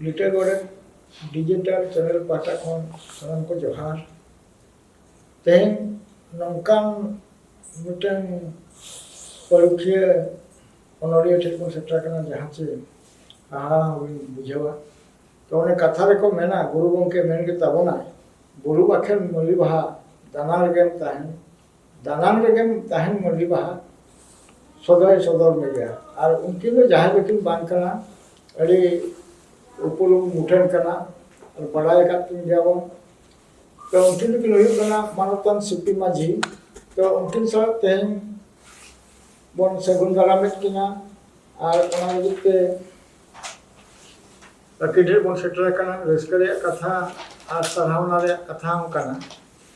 ᱞᱤᱴᱟᱹ ᱜᱚᱰᱮᱛ digital channel ᱯᱟᱦᱴᱟ ᱠᱷᱚᱱ ᱥᱟᱱᱟᱢ ᱠᱚ ᱡᱚᱦᱟᱨ ᱛᱮᱦᱮᱧ ᱱᱚᱝᱠᱟᱱ ᱢᱤᱫᱴᱮᱱ ᱯᱟᱹᱨᱩᱠᱷᱤᱭᱟᱹ ᱚᱱᱚᱞᱤᱭᱟᱹ ᱴᱷᱮᱱ ᱵᱚᱱ ᱥᱮᱴᱮᱨ ᱟᱠᱟᱱᱟ ᱡᱟᱦᱟᱸ ᱪᱮ ᱦᱟᱦᱟᱲᱟ ᱦᱚᱸᱵᱚᱱ ᱵᱩᱡᱷᱟᱹᱣᱟ ᱛᱚ ᱚᱱᱮ ᱠᱟᱛᱷᱟ ᱨᱮᱠᱚ ᱢᱮᱱᱟ ᱜᱩᱨᱩ ᱜᱚᱢᱠᱮ ᱢᱮᱱ ᱜᱮ ᱛᱟᱵᱚᱱᱟᱭ ᱵᱩᱨᱩ ᱵᱟᱠᱷᱮᱲ ᱢᱟᱹᱞᱤ ᱵᱟᱦᱟ ᱫᱟᱱᱟ ᱨᱮᱜᱮᱢ ᱛᱟᱦᱮᱱ ᱫᱟᱱᱟᱝ ᱨᱮᱜᱮᱢ ᱛᱟᱦᱮᱱ ᱢᱟᱹᱞᱤ ᱵᱟᱦᱟ ᱥᱚᱫᱚᱭ ᱥᱚᱫᱚᱨ ᱢᱮᱜᱮᱭᱟ ᱟᱨ ᱩᱱᱠᱤᱱ ᱫᱚ ᱡᱟᱦᱟᱸᱭ ᱫᱚᱠᱤᱱ ᱵᱟᱝ ᱠᱟᱱᱟ ᱟᱹᱰᱤ ᱩᱯᱩᱞᱩᱢ ᱢᱩᱴᱷᱟᱹᱱ ᱠᱟᱱᱟ ᱟᱨ ᱵᱟᱰᱟᱭ ᱟᱠᱟᱫ ᱠᱤᱱ ᱜᱮᱭᱟ ᱵᱚᱱ ᱛᱚ ᱩᱱᱠᱤᱱ ᱫᱚᱠᱤᱱ ᱦᱩᱭᱩᱜ ᱠᱟᱱᱟ ᱢᱟᱱᱚᱛᱟᱱ ᱥᱤᱯᱤ ᱢᱟᱹᱡᱷᱤ ᱛᱚ ᱩᱱᱠᱤᱱ ᱥᱟᱶ ᱛᱮᱦᱮᱧ ᱵᱚᱱ ᱥᱟᱹᱜᱩᱱ ᱫᱟᱨᱟᱢᱮᱫ ᱠᱤᱱᱟ ᱟᱨ ᱚᱱᱟ ᱞᱟᱹᱜᱤᱫ ᱛᱮ ᱟᱹᱰᱤ ᱰᱷᱮᱨ ᱵᱚᱱ ᱥᱮᱴᱮᱨ ᱟᱠᱟᱱᱟ ᱨᱟᱹᱥᱠᱟᱹ ᱨᱮᱭᱟᱜ ᱠᱟᱛᱷᱟ ᱟᱨ ᱥᱟᱨᱦᱟᱣᱱᱟ ᱨᱮᱭᱟᱜ ᱠᱟᱛᱷᱟ ᱦᱚᱸ ᱠᱟᱱᱟ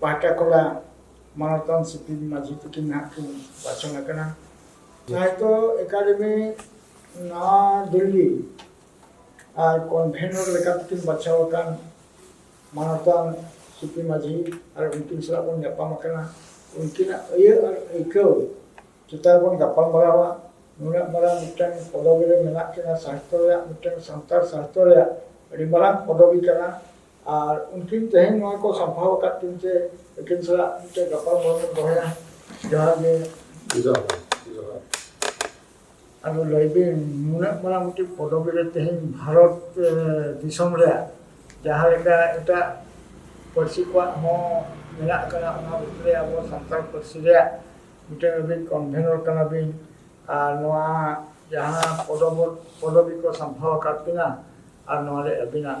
ᱯᱟᱦᱴᱟ ᱠᱚᱞᱟ ᱢᱟᱱᱚᱛᱟᱱ ᱥᱤᱯᱤᱞ ᱢᱟᱹᱡᱷᱤ ᱛᱟᱹᱠᱤᱱ ᱱᱟᱦᱟᱜ ᱠᱤᱱ ᱵᱟᱪᱷᱚᱱ ᱟᱠᱟᱱᱟ ᱥᱟᱦᱤᱛᱚ ᱮᱠᱟᱰᱮᱢᱤ ᱱᱟᱣᱟ ᱫᱤᱞᱞᱤ ᱟᱨ ᱠᱚᱱᱵᱷᱮᱱᱚᱨ ᱞᱮᱠᱟᱛᱮ ᱠᱤᱱ ᱵᱟᱪᱷᱟᱣ ᱟᱠᱟᱱ ᱢᱟᱱᱚᱛᱟᱱ ᱥᱤᱯᱤ ᱢᱟᱹᱡᱷᱤ ᱟᱨ ᱩᱱᱠᱤᱱ ᱥᱟᱞᱟᱜ ᱵᱚᱱ ᱧᱟᱯᱟᱢ ᱟᱠᱟᱱᱟ ᱩᱱᱠᱤᱱᱟᱜ ᱟᱹᱭᱟᱹ ᱟᱨ ᱟᱹᱭᱠᱟᱹᱣ ᱪᱮᱛᱟᱱ ᱵᱚᱱ ᱜᱟᱯᱟᱞ ᱢᱟᱨᱟᱣᱟ ᱱᱩᱱᱟᱹᱜ ᱢᱟᱨᱟᱝ ᱢᱤᱫᱴᱟᱝ ᱯᱚᱫᱚᱵᱤ ᱨᱮ ᱢᱮᱱᱟᱜ ᱠᱤᱱᱟ ᱥᱟᱦᱤᱛᱚ ᱨᱮᱭᱟᱜ ᱢᱤᱫᱴᱟᱝ ᱥᱟᱱᱛᱟᱲ ᱥᱟᱦᱤᱛᱚ ᱨᱮᱭᱟᱜ ᱟᱹᱰᱤ ᱢᱟᱨᱟᱝ ᱯᱚᱫᱚᱵᱤ ᱠᱟᱱᱟ ᱟᱨ ᱩᱱᱠᱤᱱ ᱛᱮᱦᱮᱧ ᱱᱚᱣᱟ ᱠᱚ ᱥᱟᱢᱵᱷᱟᱣ ᱟᱠᱟᱫ ᱠᱤᱱ ᱛᱮ ᱩᱱᱠᱤᱱ ᱥᱟᱞᱟᱜ ᱢᱤᱫᱴᱮᱱ ᱜᱟᱯᱟᱞ ᱢᱟᱨᱟᱣ ᱵᱚᱱ ᱫᱚᱦᱚᱭᱟ ᱡᱚᱦᱟᱨ ᱜᱮ ᱡᱚᱦᱟᱨ ᱡᱚᱦᱟᱨ ᱟᱫᱚ ᱞᱟᱹᱭ ᱵᱤᱱ ᱱᱩᱱᱟᱹᱜ ᱢᱟᱨᱟᱝ ᱢᱤᱫᱴᱤᱡ ᱯᱚᱫᱚᱵᱤ ᱨᱮ ᱛᱮᱦᱮᱧ ᱵᱷᱟᱨᱚᱛ ᱫᱤᱥᱚᱢ ᱨᱮ ᱡᱟᱦᱟᱸ ᱞᱮᱠᱟ ᱮᱴᱟᱜ ᱯᱟᱹᱨᱥᱤ ᱠᱚᱣᱟᱜ ᱦᱚᱸ ᱢᱮᱱᱟᱜ ᱟᱠᱟᱫᱟ ᱚᱱᱟ ᱵᱷᱤᱛᱨᱤ ᱨᱮ ᱟᱵᱚ ᱥᱟᱱᱛᱟᱲ ᱯᱟᱹᱨᱥᱤ ᱨᱮᱭᱟᱜ ᱢᱤᱫᱴᱮᱱ ᱟᱹᱵᱤᱱ ᱠᱚᱱᱵᱷᱮᱱᱚᱨ ᱠᱟᱱᱟ ᱵᱤᱱ ᱟᱨ ᱱᱚᱣᱟ ᱡᱟᱦᱟᱸ ᱯᱚᱫᱚᱵᱤ ᱠᱚ ᱥᱟᱢᱵᱷᱟᱣ ᱟᱠᱟᱫ ᱵᱤᱱᱟ ᱟᱨ ᱱᱚᱣᱟ ᱨᱮ ᱟᱹᱵᱤᱱᱟᱜ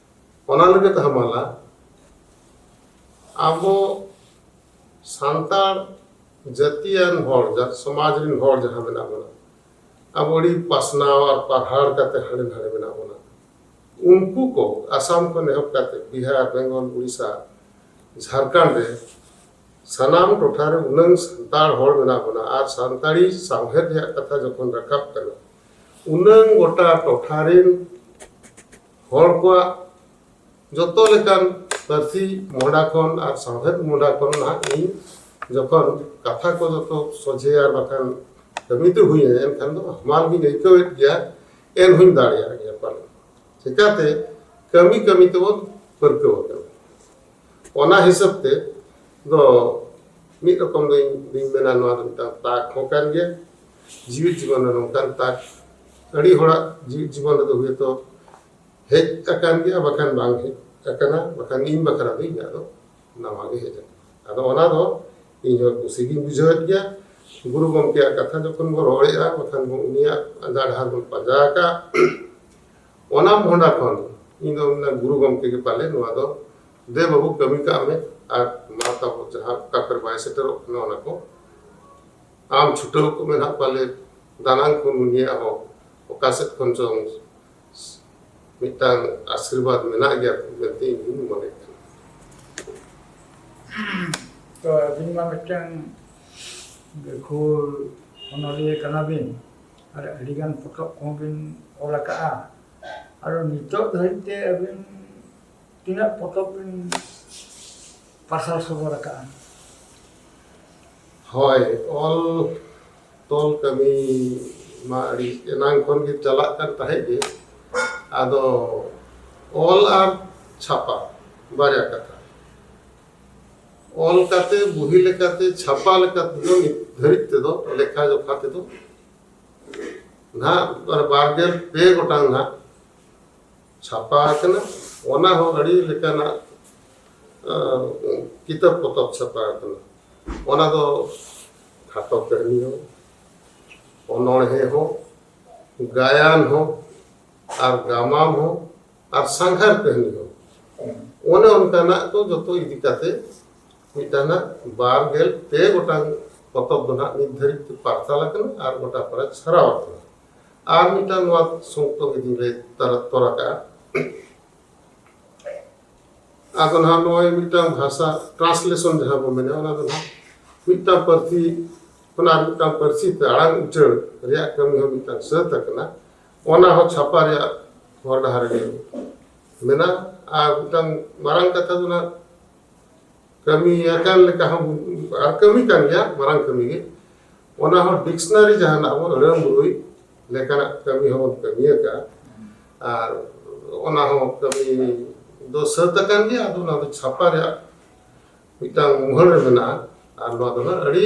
ᱚᱱᱟ ᱞᱟᱹᱜᱤᱫ ᱦᱟᱢᱟᱞᱟ ᱟᱵᱚ ᱥᱟᱱᱛᱟᱲ ᱡᱟᱹᱛᱤᱭᱟᱱ ᱦᱚᱲ ᱥᱚᱢᱟᱡᱽ ᱨᱮᱱ ᱦᱚᱲ ᱡᱟᱦᱟᱸ ᱢᱮᱱᱟᱜ ᱵᱚᱱᱟ ᱟᱵᱚ ᱟᱹᱰᱤ ᱯᱟᱥᱱᱟᱣ ᱟᱨ ᱯᱟᱨᱦᱟᱲ ᱠᱟᱛᱮ ᱦᱟᱸᱰᱮ ᱱᱟᱰᱮ ᱢᱮᱱᱟᱜ ᱵᱚᱱᱟ ᱩᱱᱠᱩ ᱠᱚ ᱟᱥᱟᱢ ᱠᱷᱚᱱ ᱮᱦᱚᱵ ᱠᱟᱛᱮ ᱵᱤᱦᱟᱨ ᱵᱮᱝᱜᱚᱞ ᱩᱲᱤᱥᱥᱟ ᱡᱷᱟᱲᱠᱷᱚᱸᱰ ᱨᱮ ᱥᱟᱱᱟᱢ ᱴᱚᱴᱷᱟ ᱨᱮ ᱩᱱᱟᱹᱝ ᱥᱟᱱᱛᱟᱲ ᱦᱚᱲ ᱢᱮᱱᱟᱜ ᱵᱚᱱᱟ ᱟᱨ ᱥᱟᱱᱛᱟᱲᱤ ᱥᱟᱶᱦᱮᱫ ᱨᱮᱭᱟᱜ ᱠᱟᱛᱷᱟ ᱡᱚᱠᱷᱚᱱ ᱨᱟᱠᱟᱵ ᱠᱟᱱᱟ ᱩᱱᱟᱹᱝ ᱜᱚᱴᱟ ᱴᱚᱴᱷᱟ ᱨᱮᱱ ᱦᱚᱲ ᱠᱚᱣᱟᱜ ᱡᱚᱛᱚ ᱞᱮᱠᱟᱱ ᱯᱟᱹᱨᱥᱤ ᱢᱚᱦᱰᱟ ᱠᱷᱚᱱ ᱟᱨ ᱥᱟᱶᱦᱮᱫ ᱢᱚᱦᱰᱟ ᱠᱷᱚᱱ ᱱᱟᱦᱟᱜ ᱤᱧ ᱡᱚᱠᱷᱚᱱ ᱠᱟᱛᱷᱟ ᱠᱚ ᱡᱚᱛᱚ ᱥᱚᱡᱷᱮ ᱟᱨ ᱵᱟᱠᱷᱟᱱ ᱠᱟᱹᱢᱤ ᱛᱮ ᱦᱩᱭ ᱮᱱᱟ ᱮᱱᱠᱷᱟᱱ ᱫᱚ ᱦᱟᱢᱟᱞ ᱜᱤᱧ ᱟᱹᱭᱠᱟᱹᱣᱮᱫ ᱜᱮᱭᱟ ᱮᱱ ᱦᱚᱧ ᱫᱟᱲᱮᱭᱟᱜ ᱜᱮᱭᱟ ᱯᱟᱞᱮ ᱪᱤᱠᱟᱹᱛᱮ ᱠᱟᱹᱢᱤ ᱠᱟᱹᱢᱤ ᱛᱮᱵᱚᱱ ᱯᱟᱹᱨᱠᱟᱹᱣ ᱟᱠᱟᱱᱟ ᱚᱱᱟ ᱦᱤᱥᱟᱹᱵ ᱛᱮ ᱫᱚ ᱢᱤᱫ ᱨᱚᱠᱚᱢ ᱫᱚᱧ ᱢᱮᱱᱟ ᱱᱚᱣᱟ ᱫᱚ ᱢᱤᱫᱴᱟᱝ ᱛᱟᱠ ᱦᱚᱸ ᱠᱟᱱ ᱜᱮᱭᱟ ᱡᱤᱣᱤᱫ ᱡᱤᱵᱚᱱ ᱨᱮ ᱱᱚᱝᱠᱟᱱ ᱛᱟᱠ ᱟᱹᱰᱤ ᱦᱚᱲᱟᱜ ᱡᱤᱣᱤᱫ ᱡᱤᱵᱚᱱ ᱨᱮᱫᱚ ᱦᱚᱭᱛᱚ ᱦᱮᱡ ᱟᱠᱟᱱ ᱜᱮᱭᱟ ᱵᱟᱠᱷᱟᱱ ᱵᱟᱝ ᱦᱮᱡ ᱟᱠᱟᱱᱟ ᱵᱟᱠᱷᱟᱱ ᱤᱧ ᱵᱟᱠᱷᱨᱟ ᱫᱚ ᱤᱧᱟᱹᱜ ᱫᱚ ᱱᱟᱣᱟ ᱜᱮ ᱦᱮᱡ ᱟᱠᱟᱱᱟ ᱟᱫᱚ ᱚᱱᱟ ᱫᱚ ᱤᱧ ᱦᱚᱸ ᱠᱩᱥᱤ ᱜᱤᱧ ᱵᱩᱡᱷᱟᱹᱣᱮᱫ ᱜᱮᱭᱟ ᱜᱩᱨᱩ ᱜᱚᱢᱠᱮᱭᱟᱜ ᱠᱟᱛᱷᱟ ᱡᱚᱠᱷᱚᱱ ᱵᱚᱱ ᱨᱚᱲᱮᱫᱼᱟ ᱵᱟᱠᱷᱟᱱ ᱵᱚᱱ ᱩᱱᱤᱭᱟᱜ ᱟᱸᱫᱷᱟ ᱰᱟᱦᱟᱨ ᱵᱚᱱ ᱯᱟᱸᱡᱟ ᱟᱠᱟᱫ ᱚᱱᱟ ᱢᱚᱦᱰᱟ ᱠᱷᱚᱱ ᱤᱧ ᱫᱚ ᱢᱮᱱᱟ ᱜᱩᱨᱩ ᱜᱚᱢᱠᱮ ᱜᱮ ᱯᱟᱞᱮ ᱱᱚᱣᱟ ᱫᱚ ᱫᱮ ᱵᱟᱹᱵᱩ ᱠᱟᱹᱢᱤ ᱠᱟᱜ ᱢᱮ ᱟᱨ ᱢᱟ ᱛᱟᱵᱚ ᱡᱟᱦᱟᱸ ᱚᱠᱟ ᱠᱚᱨᱮ ᱵᱟᱭ ᱥᱮᱴᱮᱨᱚᱜ ᱠᱟᱱᱟ ᱚᱱᱟ ᱠᱚ ᱟᱢ ᱪᱷᱩᱴᱟᱹᱣ ᱠᱚᱜ ᱢᱮ ᱱᱟᱜ ᱯᱟᱞᱮ ᱫᱟᱱᱟᱝ ᱠᱷᱚᱱ ᱩᱱᱤᱭᱟᱜ ᱦᱚᱸ ᱚᱠᱟ ᱥᱮᱫ ᱠᱷᱚᱱ ᱪᱚᱝ ᱢᱤᱫᱴᱟᱝ ᱟᱥᱤᱨᱵᱟᱫᱽ ᱢᱮᱱᱟᱜ ᱜᱮᱭᱟ ᱢᱮᱱᱛᱮ ᱤᱧ ᱦᱚᱧ ᱢᱚᱱᱮ ᱠᱟᱱᱟ ᱛᱚ ᱟᱹᱵᱤᱱ ᱢᱟ ᱢᱤᱫᱴᱟᱝ ᱜᱟᱹᱠᱷᱩᱲ ᱚᱱᱚᱞᱤᱭᱟᱹ ᱠᱟᱱᱟᱵᱤᱱ ᱟᱨ ᱟᱹᱰᱤᱜᱟᱱ ᱯᱚᱛᱚᱵ ᱠᱚᱦᱚᱸ ᱵᱤᱱ ᱚᱞ ᱟᱠᱟᱫᱼᱟ ᱟᱨ ᱱᱤᱛᱚᱜ ᱫᱷᱟᱹᱨᱤᱡ ᱛᱮ ᱟᱹᱵᱤᱱ ᱛᱤᱱᱟᱹᱜ ᱯᱚᱛᱚᱵ ᱵᱤᱱ ᱯᱟᱥᱟᱞ ᱥᱚᱫᱚᱨ ᱟᱠᱟᱫᱼᱟ ᱦᱳᱭ ᱚᱞ ᱛᱚᱞ ᱠᱟᱹᱢᱤ ᱢᱟ ᱟᱹᱰᱤ ᱮᱱᱟᱝ ᱠᱷᱚᱱ ᱜᱮ ᱪᱟᱞᱟᱜ ᱠᱟᱱ ᱛᱟᱦᱮᱸᱫ ᱜᱮ ᱟᱫᱚ ᱚᱞ ᱟᱨ ᱪᱷᱟᱯᱟ ᱵᱟᱨᱭᱟ ᱠᱟᱛᱷᱟ ᱚᱞ ᱠᱟᱛᱮ ᱵᱩᱦᱤ ᱞᱮᱠᱟᱛᱮ ᱪᱷᱟᱯᱟ ᱞᱮᱠᱟᱛᱮ ᱫᱚ ᱱᱤᱛ ᱫᱷᱟᱹᱨᱤᱡ ᱛᱮᱫᱚ ᱞᱮᱠᱷᱟ ᱡᱚᱠᱷᱟ ᱛᱮᱫᱚ ᱱᱟᱦᱟᱜ ᱵᱟᱨᱜᱮᱞ ᱯᱮ ᱜᱚᱴᱟᱝ ᱱᱟᱦᱟᱜ ᱪᱷᱟᱯᱟ ᱟᱠᱟᱱᱟ ᱚᱱᱟ ᱦᱚᱸ ᱟᱹᱰᱤ ᱞᱮᱠᱟᱱᱟᱜ ᱠᱤᱛᱟᱹᱵ ᱯᱚᱛᱚᱵ ᱪᱷᱟᱯᱟ ᱟᱠᱟᱱᱟ ᱚᱱᱟ ᱫᱚ ᱠᱷᱟᱴᱚ ᱠᱟᱹᱦᱱᱤ ᱦᱚᱸ ᱚᱱᱚᱬᱦᱮ ᱦᱚᱸ ᱜᱟᱭᱟᱱ ᱦᱚᱸ ᱟᱨ ᱜᱟᱢᱟᱢ ᱦᱚᱸ ᱟᱨ ᱥᱟᱸᱜᱷᱟᱨ ᱠᱟᱹᱦᱱᱤ ᱦᱚᱸ ᱚᱱᱮ ᱚᱱᱠᱟᱱᱟᱜ ᱠᱚ ᱡᱚᱛᱚ ᱤᱫᱤ ᱠᱟᱛᱮ ᱢᱤᱫᱴᱟᱝ ᱵᱟᱨ ᱜᱮᱞ ᱯᱮ ᱜᱚᱴᱟᱝ ᱯᱚᱛᱚᱵ ᱫᱚ ᱱᱟᱜ ᱱᱤᱛ ᱫᱷᱟᱹᱨᱤᱡ ᱛᱮ ᱯᱟᱨᱥᱟᱞ ᱟᱠᱟᱱᱟ ᱟᱨ ᱜᱚᱴᱟ ᱯᱟᱲᱟ ᱪᱷᱟᱨᱟᱣ ᱟᱠᱟᱱᱟ ᱟᱨ ᱢᱤᱫᱴᱟᱝ ᱱᱚᱣᱟ ᱥᱚᱝᱠᱛᱚ ᱜᱮᱫᱤᱧ ᱞᱟᱹᱭ ᱛᱟᱨᱟ ᱛᱚᱨ ᱟᱠᱟᱜᱼᱟ ᱟᱫᱚ ᱱᱟᱦᱟᱜ ᱱᱚᱜᱼᱚᱭ ᱢᱤᱫᱴᱟᱝ ᱵᱷᱟᱥᱟ ᱴᱨᱟᱱᱥᱞᱮᱥᱚᱱ ᱡᱟᱦᱟᱸ ᱵᱚ ᱢᱮᱱᱟ ᱚᱱᱟ ᱫᱚ ᱱᱟᱦᱟᱜ ᱢᱤᱫᱴᱟᱝ ᱯᱟᱹᱨᱥᱤ ᱠᱷᱚᱱ ᱟᱨ ᱢᱤᱫᱴᱟᱝ ᱯᱟᱹᱨᱥᱤ ᱛᱮ ᱟᱲᱟᱝ ᱩᱪᱟᱹᱲ ᱨᱮᱭᱟᱜ ᱠᱟᱹᱢᱤ ᱦᱚᱸ ᱢᱤᱫᱴᱟᱝ ᱥᱟᱹᱛ ᱟᱠᱟᱱᱟ ᱚᱱᱟ ᱦᱚᱸ ᱪᱷᱟᱯᱟ ᱨᱮᱭᱟᱜ ᱦᱚᱨ ᱰᱟᱦᱟᱨ ᱨᱮ ᱢᱮᱱᱟᱜᱼᱟ ᱟᱨ ᱢᱤᱫᱴᱟᱝ ᱢᱟᱨᱟᱝ ᱠᱟᱛᱷᱟ ᱫᱚ ᱱᱟᱦᱟᱜ ᱠᱟᱹᱢᱤ ᱟᱠᱟᱱ ᱞᱮᱠᱟ ᱦᱚᱸ ᱟᱨ ᱠᱟᱹᱢᱤ ᱠᱟᱱ ᱜᱮᱭᱟ ᱢᱟᱨᱟᱝ ᱠᱟᱹᱢᱤ ᱜᱮ ᱚᱱᱟ ᱦᱚᱸ ᱰᱤᱠᱥᱱᱟᱨᱤ ᱡᱟᱦᱟᱱᱟᱜ ᱵᱚᱱ ᱟᱹᱲᱟᱹ ᱢᱩᱨᱩᱭ ᱞᱮᱠᱟᱱᱟᱜ ᱠᱟᱹᱢᱤ ᱦᱚᱸ ᱵᱚᱱ ᱠᱟᱹᱢᱤ ᱟᱠᱟᱫᱼᱟ ᱟᱨ ᱚᱱᱟ ᱦᱚᱸ ᱠᱟᱹᱢᱤ ᱫᱚ ᱥᱟᱹᱛ ᱟᱠᱟᱱ ᱜᱮᱭᱟ ᱟᱫᱚ ᱚᱱᱟ ᱫᱚ ᱪᱷᱟᱯᱟ ᱨᱮᱭᱟᱜ ᱢᱤᱫᱴᱟᱝ ᱢᱩᱦᱟᱹᱲ ᱨᱮ ᱢᱮᱱᱟᱜᱼᱟ ᱟᱨ ᱱᱚᱣᱟ ᱫᱚ ᱦᱟᱸᱜ ᱟᱹᱰᱤ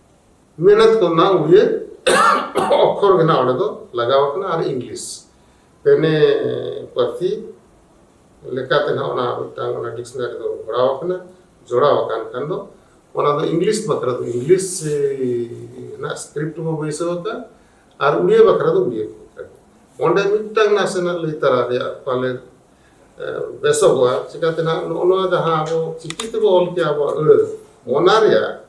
ᱢᱮᱱᱮᱛ ᱠᱚ ᱱᱟ ᱩᱭᱮ ᱚᱠᱷᱚᱨ ᱜᱮ ᱱᱟ ᱚᱸᱰᱮ ᱫᱚ ᱞᱟᱜᱟᱣ ᱠᱟᱱᱟ ᱟᱨ ᱤᱝᱞᱤᱥ ᱯᱮᱱᱮ ᱯᱟᱹᱨᱥᱤ ᱞᱮᱠᱟᱛᱮ ᱱᱟᱜ ᱚᱱᱟ ᱢᱤᱫᱴᱟᱝ ᱚᱱᱟ ᱰᱤᱠᱥᱱᱟᱨᱤ ᱫᱚ ᱜᱚᱲᱟᱣ ᱠᱟᱱᱟ ᱡᱚᱲᱟᱣ ᱟᱠᱟᱱ ᱠᱷᱟᱱ ᱫᱚ ᱚᱱᱟ ᱫᱚ ᱤᱝᱞᱤᱥ ᱵᱟᱠᱷᱨᱟ ᱫᱚ ᱤᱝᱞᱤᱥ ᱨᱮᱱᱟᱜ ᱥᱠᱨᱤᱯᱴ ᱵᱚ ᱵᱟᱹᱭᱥᱟᱹᱣ ᱟᱠᱟᱫ ᱟᱨ ᱩᱲᱤᱭᱟ ᱵᱟᱠᱷᱨᱟ ᱫᱚ ᱩᱲᱤᱭᱟ ᱚᱸᱰᱮ ᱢᱤᱫᱴᱟᱝ ᱱᱟᱥᱮᱱᱟᱜ ᱞᱟᱹᱭ ᱛᱟᱨᱟ ᱨᱮᱭᱟᱜ ᱯᱟᱞᱮ ᱵᱮᱥᱚᱜᱚᱜᱼᱟ ᱪᱤᱠᱟᱛᱮ ᱱᱟᱜ ᱱᱚᱜᱼᱚ ᱱᱚᱣᱟ ᱡᱟᱦᱟᱸ ᱟᱵᱚ ᱪᱤᱠᱤ ᱛᱮᱵᱚ ᱚᱞ ᱠᱮᱜᱼᱟ ᱟᱵᱚᱣᱟᱜ ᱟᱹᱲᱟᱹ ᱚᱱᱟ ᱨᱮᱭᱟᱜ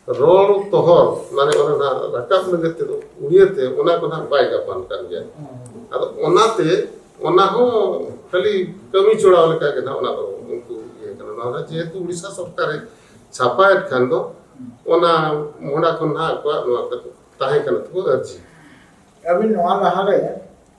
ᱨᱚᱲ ᱛᱚᱦᱚᱨ ᱢᱟᱱᱮ ᱚᱱᱟ ᱱᱟᱜ ᱨᱟᱠᱟᱵ ᱞᱟᱹᱜᱤᱫ ᱛᱮᱫᱚ ᱩᱲᱤᱭᱟᱹ ᱛᱮ ᱚᱱᱟ ᱠᱚ ᱱᱟᱜ ᱵᱟᱭ ᱜᱟᱯᱟᱱ ᱠᱟᱱ ᱜᱮᱭᱟ ᱟᱫᱚ ᱚᱱᱟᱛᱮ ᱚᱱᱟ ᱦᱚᱸ ᱠᱷᱟᱹᱞᱤ ᱠᱟᱹᱢᱤ ᱪᱚᱲᱟᱣ ᱞᱮᱠᱟ ᱜᱮ ᱱᱟᱜ ᱚᱱᱟ ᱫᱚ ᱩᱱᱠᱩ ᱤᱭᱟᱹ ᱠᱟᱱᱟ ᱱᱚᱣᱟ ᱫᱚ ᱡᱮᱦᱮᱛᱩ ᱩᱲᱤᱥᱥᱟ ᱥᱚᱨᱠᱟᱨᱮ ᱪᱷᱟᱯᱟᱭᱮᱫ ᱠᱷᱟᱱ ᱫᱚ ᱚᱱᱟ ᱢᱚᱦᱰᱟ ᱠᱷᱚᱱ ᱱᱟᱜ ᱟᱠᱚᱣᱟᱜ ᱱᱚᱣᱟ ᱛᱟᱦᱮᱸ ᱠᱟᱱᱟ ᱛᱟᱠᱚ ᱟᱹᱨᱡᱤ ᱟᱹᱵᱤᱱ ᱱᱚᱣᱟ ᱞᱟᱦᱟᱨᱮ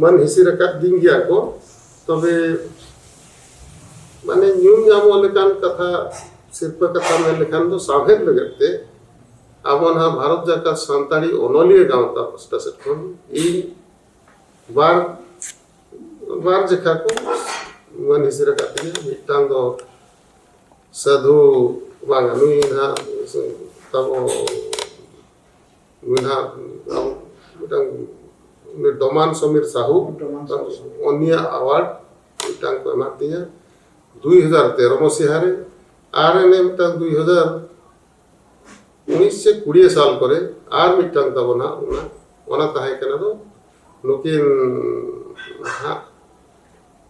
ᱢᱟᱱ ᱦᱤᱥᱤᱨ ᱟᱠᱟᱫ ᱫᱤᱧ ᱜᱮᱭᱟ ᱠᱚ ᱛᱚᱵᱮ ᱢᱟᱱᱮ ᱧᱩᱢ ᱧᱟᱢᱚᱜ ᱞᱮᱠᱟᱱ ᱠᱟᱛᱷᱟ ᱥᱤᱨᱯᱟᱹ ᱠᱟᱛᱷᱟ ᱢᱮᱱ ᱞᱮᱠᱷᱟᱱ ᱫᱚ ᱥᱟᱶᱦᱮᱫ ᱞᱟᱹᱜᱤᱫ ᱛᱮ ᱟᱵᱚ ᱱᱟᱦᱟᱜ ᱵᱷᱟᱨᱚᱛ ᱡᱟᱠᱟᱛ ᱥᱟᱱᱛᱟᱲᱤ ᱚᱱᱚᱞᱤᱭᱟᱹ ᱜᱟᱶᱛᱟ ᱯᱟᱥᱴᱟ ᱥᱮᱫ ᱠᱷᱚᱱ ᱤᱧ ᱵᱟᱨ ᱵᱟᱨ ᱡᱮᱠᱷᱟ ᱠᱚ ᱢᱟᱱ ᱦᱤᱥᱤᱨ ᱟᱠᱟᱫ ᱛᱤᱧᱟ ᱢᱤᱫᱴᱟᱝ ᱫᱚ ᱥᱟᱹᱫᱷᱩ ᱵᱟᱝᱟ ᱱᱩᱭ ᱱᱟᱦᱟᱜ ᱛᱟᱵᱚ ᱰᱚᱢᱟᱱ ᱥᱚᱢᱤᱨ ᱥᱟᱦᱩ ᱚᱱᱤᱭᱟ ᱟᱣᱟᱨᱰ ᱢᱤᱫᱴᱟᱝ ᱠᱚ ᱮᱢᱟᱜ ᱛᱤᱧᱟᱹ ᱫᱩᱭ ᱦᱟᱡᱟᱨ ᱛᱮᱨᱚ ᱢᱟᱹᱥᱤᱦᱟ ᱨᱮ ᱟᱨ ᱮᱱᱮ ᱢᱤᱫᱴᱟᱝ ᱫᱩᱭ ᱦᱟᱡᱟᱨ ᱩᱱᱤᱥ ᱥᱮ ᱠᱩᱲᱤᱭᱟᱹ ᱥᱟᱞ ᱠᱚᱨᱮ ᱟᱨ ᱢᱤᱫᱴᱟᱝ ᱛᱟᱵᱚᱱᱟ ᱚᱱᱟ ᱚᱱᱟ ᱛᱟᱦᱮᱸ ᱠᱟᱱᱟ ᱫᱚ ᱱᱩᱠᱤᱱ ᱦᱟᱸᱜ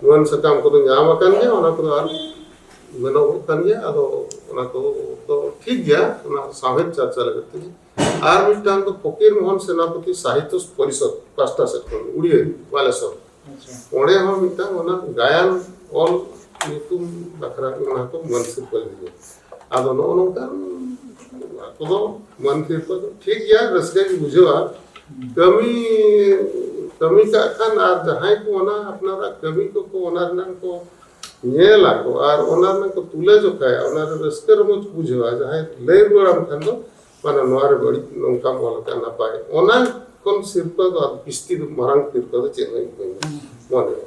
ᱡᱩᱣᱟᱹᱱ ᱥᱟᱠᱟᱢ ᱠᱚᱫᱚ ᱧᱟᱢ ᱟᱠᱟᱱ ᱜᱮᱭᱟ ᱚᱱᱟ ᱠᱚᱫᱚ ᱟᱨ ᱢᱮᱱᱚᱜᱚᱜ ᱠᱟᱱ ᱜᱮᱭᱟ ᱟᱫᱚ ᱚᱱᱟ ᱠᱚᱫᱚ ᱴᱷᱤᱠ ᱜᱮᱭᱟ ᱚᱱᱟ ᱥᱟᱶᱦᱮᱫ ᱪᱟᱨᱪᱟ ᱞᱟᱹᱜᱤᱫ ᱛᱮᱜᱮ ᱟᱨ ᱢᱤᱫᱴᱟᱝ ᱫᱚ ᱯᱷᱚᱠᱤᱨ ᱢᱳᱦᱚᱱ ᱥᱮᱱᱟᱯᱚᱛᱤ ᱥᱟᱦᱤᱛᱛᱚ ᱯᱚᱨᱤᱥᱚᱫ ᱯᱟᱥᱴᱟ ᱥᱮᱫ ᱠᱷᱚᱱ ᱩᱲᱤᱭᱟᱹ ᱵᱟᱞᱮᱥᱚᱨ ᱚᱸᱰᱮ ᱦᱚᱸ ᱢᱤᱫᱴᱟᱝ ᱚᱱᱟ ᱜᱟᱭᱟᱱ ᱚᱞ ᱧᱩᱛᱩᱢ ᱵᱟᱠᱷᱨᱟ ᱚᱱᱟ ᱠᱚ ᱢᱟᱹᱱ ᱥᱤᱨᱯᱟᱹ ᱞᱮᱫᱮᱭᱟ ᱟᱫᱚ ᱱᱚᱜᱼᱚ ᱱᱚᱝᱠᱟᱱ ᱟᱠᱚ ᱫᱚ ᱢᱟᱹᱱᱠᱤ ᱠᱚ ᱫᱚ ᱴᱷᱤᱠ ᱜᱮᱭᱟ ᱨᱟᱹᱥᱠᱟᱹ ᱜᱮ ᱵᱩᱡᱷᱟᱹᱜᱼᱟ ᱠᱟᱹᱢᱤ ᱠᱟᱹᱢᱤ ᱠᱟᱜ ᱠᱷᱟᱱ ᱟᱨ ᱡᱟᱦᱟᱸᱭ ᱠᱚ ᱚᱱᱟ ᱟᱯᱱᱟᱨᱟᱜ ᱠᱟᱹᱢᱤ ᱠᱚᱠᱚ ᱚᱱᱟ ᱨᱮᱱᱟᱜ ᱠᱚ ᱧᱮᱞ ᱟᱠᱚ ᱟᱨ ᱚᱱᱟ ᱨᱮᱱᱟᱜ ᱠᱚ ᱛᱩᱞᱟᱹ ᱡᱚᱠᱷᱟᱭᱟ ᱚᱱᱟ ᱨᱮ ᱨᱟᱹᱥᱠᱟᱹ ᱨᱚᱢᱚᱡᱽ ᱵᱩᱡᱷᱟᱹᱣᱟ ᱡᱟᱦᱟᱸᱭ ᱞᱟᱹᱭ ᱨᱩᱣᱟᱹᱲᱟᱢ ᱠᱷᱟᱱ ᱫᱚ ᱢᱟᱱᱮ ᱱᱚᱣᱟ ᱨᱮ ᱵᱟᱹᱲᱤᱡ ᱱᱚᱝᱠᱟᱢ ᱚᱞ ᱟᱠᱟᱫ ᱱᱟᱯᱟᱭ ᱚᱱᱟ ᱠᱷᱚᱱ ᱥᱤᱨᱯᱟᱹ ᱫᱚ ᱵᱤᱥᱛᱤ ᱢᱟᱨᱟᱝ ᱥᱤᱨᱯᱟᱹ ᱫᱚ ᱪᱮᱫ ᱦᱚᱸ ᱵᱟᱹᱧ ᱢᱚᱱᱮᱭᱟ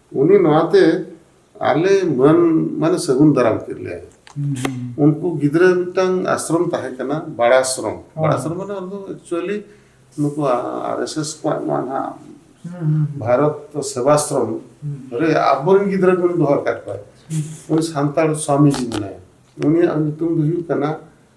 ᱩᱱᱤ ᱱᱚᱣᱟᱛᱮ ᱟᱞᱮ ᱢᱟᱹᱱ ᱢᱟᱱᱮ ᱥᱟᱹᱜᱩᱱ ᱫᱟᱨᱟᱢ ᱠᱮᱫ ᱞᱮᱭᱟ ᱩᱱᱠᱩ ᱜᱤᱫᱽᱨᱟᱹ ᱢᱤᱫᱴᱟᱝ ᱟᱥᱨᱚᱢ ᱛᱟᱦᱮᱸ ᱠᱟᱱᱟ ᱵᱟᱲᱟᱥᱨᱚᱢ ᱵᱟᱲᱟᱥᱨᱚᱢ ᱢᱟᱱᱮ ᱚᱱᱟ ᱫᱚ ᱮᱠᱪᱩᱭᱮᱞᱤ ᱱᱩᱠᱩ ᱟᱨ ᱮᱥ ᱮᱥ ᱠᱚᱣᱟᱜ ᱱᱚᱣᱟ ᱱᱟᱦᱟᱜ ᱵᱷᱟᱨᱚᱛ ᱥᱮᱵᱟᱥᱨᱚᱢ ᱨᱮ ᱟᱵᱚᱨᱮᱱ ᱜᱤᱫᱽᱨᱟᱹ ᱠᱚ ᱫᱚᱦᱚ ᱟᱠᱟᱫ ᱠᱚᱣᱟ ᱩᱱᱤ ᱥᱟᱱᱛᱟᱲ ᱥᱟᱢᱤᱡᱤ ᱢᱮᱱᱟᱭᱟ ᱩᱱᱤᱭᱟᱜ ᱧᱩᱛᱩᱢ ᱫᱚ ᱦᱩᱭᱩᱜ ᱠᱟᱱᱟ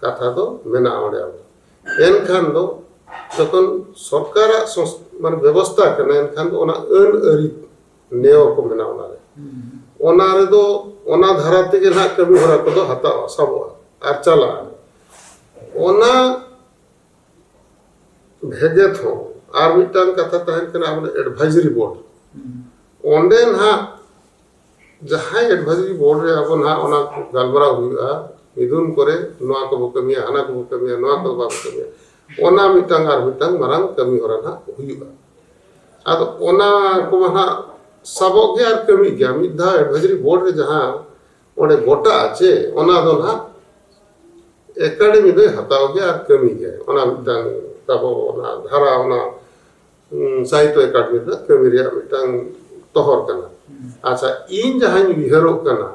ᱠᱟᱛᱷᱟ ᱫᱚ ᱢᱮᱱᱟᱜᱼᱟ ᱚᱸᱰᱮ ᱟᱵᱚ ᱮᱱᱠᱷᱟᱱ ᱫᱚ ᱡᱚᱠᱷᱚᱱ ᱥᱚᱨᱠᱟᱨᱟᱜ ᱢᱟᱱᱮ ᱵᱮᱵᱚᱥᱛᱷᱟ ᱠᱟᱱᱟ ᱮᱱᱠᱷᱟᱱ ᱫᱚ ᱚᱱᱟ ᱟᱹᱱ ᱟᱹᱨᱤ ᱱᱮᱣ ᱠᱚ ᱢᱮᱱᱟᱜᱼᱟ ᱚᱱᱟᱨᱮ ᱚᱱᱟ ᱨᱮᱫᱚ ᱚᱱᱟ ᱫᱷᱟᱨᱟ ᱛᱮᱜᱮ ᱱᱟᱦᱟᱜ ᱠᱟᱹᱢᱤ ᱦᱚᱨᱟ ᱠᱚᱫᱚ ᱦᱟᱛᱟᱣᱟ ᱥᱟᱵᱚᱜᱼᱟ ᱟᱨ ᱪᱟᱞᱟᱜᱼᱟ ᱚᱱᱟ ᱵᱷᱮᱜᱮᱫ ᱦᱚᱸ ᱟᱨ ᱢᱤᱫᱴᱟᱝ ᱠᱟᱛᱷᱟ ᱛᱟᱦᱮᱱ ᱠᱟᱱᱟ ᱟᱵᱚ ᱮᱰᱵᱷᱟᱭᱡᱟᱨᱤ ᱵᱳᱨᱰ ᱚᱸᱰᱮ ᱱᱟᱦᱟᱜ ᱡᱟᱦᱟᱸᱭ ᱮᱰᱵᱷᱟᱭᱡᱟᱨᱤ ᱵᱳᱨᱰ ᱨᱮ ᱟᱵᱚ ᱱᱟᱦᱟᱜ ᱚᱱᱟ ᱜᱟᱞᱢᱟᱨᱟᱣ ᱦᱩᱭᱩᱜᱼᱟ ᱢᱤᱫᱩᱱ ᱠᱚᱨᱮ ᱱᱚᱣᱟ ᱠᱚᱵᱚ ᱠᱟᱹᱢᱤᱭᱟ ᱦᱟᱱᱟ ᱠᱚᱵᱚ ᱠᱟᱹᱢᱤᱭᱟ ᱱᱚᱣᱟ ᱠᱚ ᱵᱟᱵᱚ ᱠᱟᱹᱢᱤᱭᱟ ᱚᱱᱟ ᱢᱤᱫᱴᱟᱝ ᱟᱨ ᱢᱤᱫᱴᱟᱝ ᱢᱟᱨᱟᱝ ᱠᱟᱹᱢᱤ ᱦᱚᱨᱟ ᱱᱟᱦᱟᱜ ᱦᱩᱭᱩᱜᱼᱟ ᱟᱫᱚ ᱚᱱᱟ ᱠᱚᱢᱟ ᱱᱟᱦᱟᱜ ᱥᱟᱵᱚᱜ ᱜᱮ ᱟᱨ ᱠᱟᱹᱢᱤ ᱜᱮᱭᱟ ᱢᱤᱫ ᱫᱷᱟᱣ ᱮᱰᱵᱷᱟᱭᱡᱟᱨᱤ ᱵᱳᱨᱰ ᱨᱮ ᱡᱟᱦᱟᱸ ᱚᱸᱰᱮ ᱜᱚᱴᱟᱜᱼᱟ ᱪᱮ ᱚᱱᱟ ᱫᱚ ᱱᱟᱦᱟᱜ ᱮᱠᱟᱰᱮᱢᱤ ᱫᱚᱭ ᱦᱟᱛᱟᱣ ᱜᱮᱭᱟ ᱟᱨ ᱠᱟᱹᱢᱤ ᱜᱮᱭᱟ ᱚᱱᱟ ᱢᱤᱫᱴᱟᱝ ᱛᱟᱵᱚ ᱚᱱᱟ ᱫᱷᱟᱨᱟ ᱚᱱᱟ ᱥᱟᱦᱤᱛᱚ ᱮᱠᱟᱰᱮᱢᱤ ᱨᱮᱱᱟᱜ ᱠᱟᱹᱢᱤ ᱨᱮᱭᱟᱜ ᱢᱤᱫᱴᱟᱝ ᱛᱚᱦᱚᱨ ᱠᱟᱱᱟ ᱟᱪᱪᱷᱟ ᱤᱧ ᱡᱟᱦᱟᱸᱧ ᱩᱭᱦᱟᱹᱨᱚᱜ ᱠᱟᱱᱟ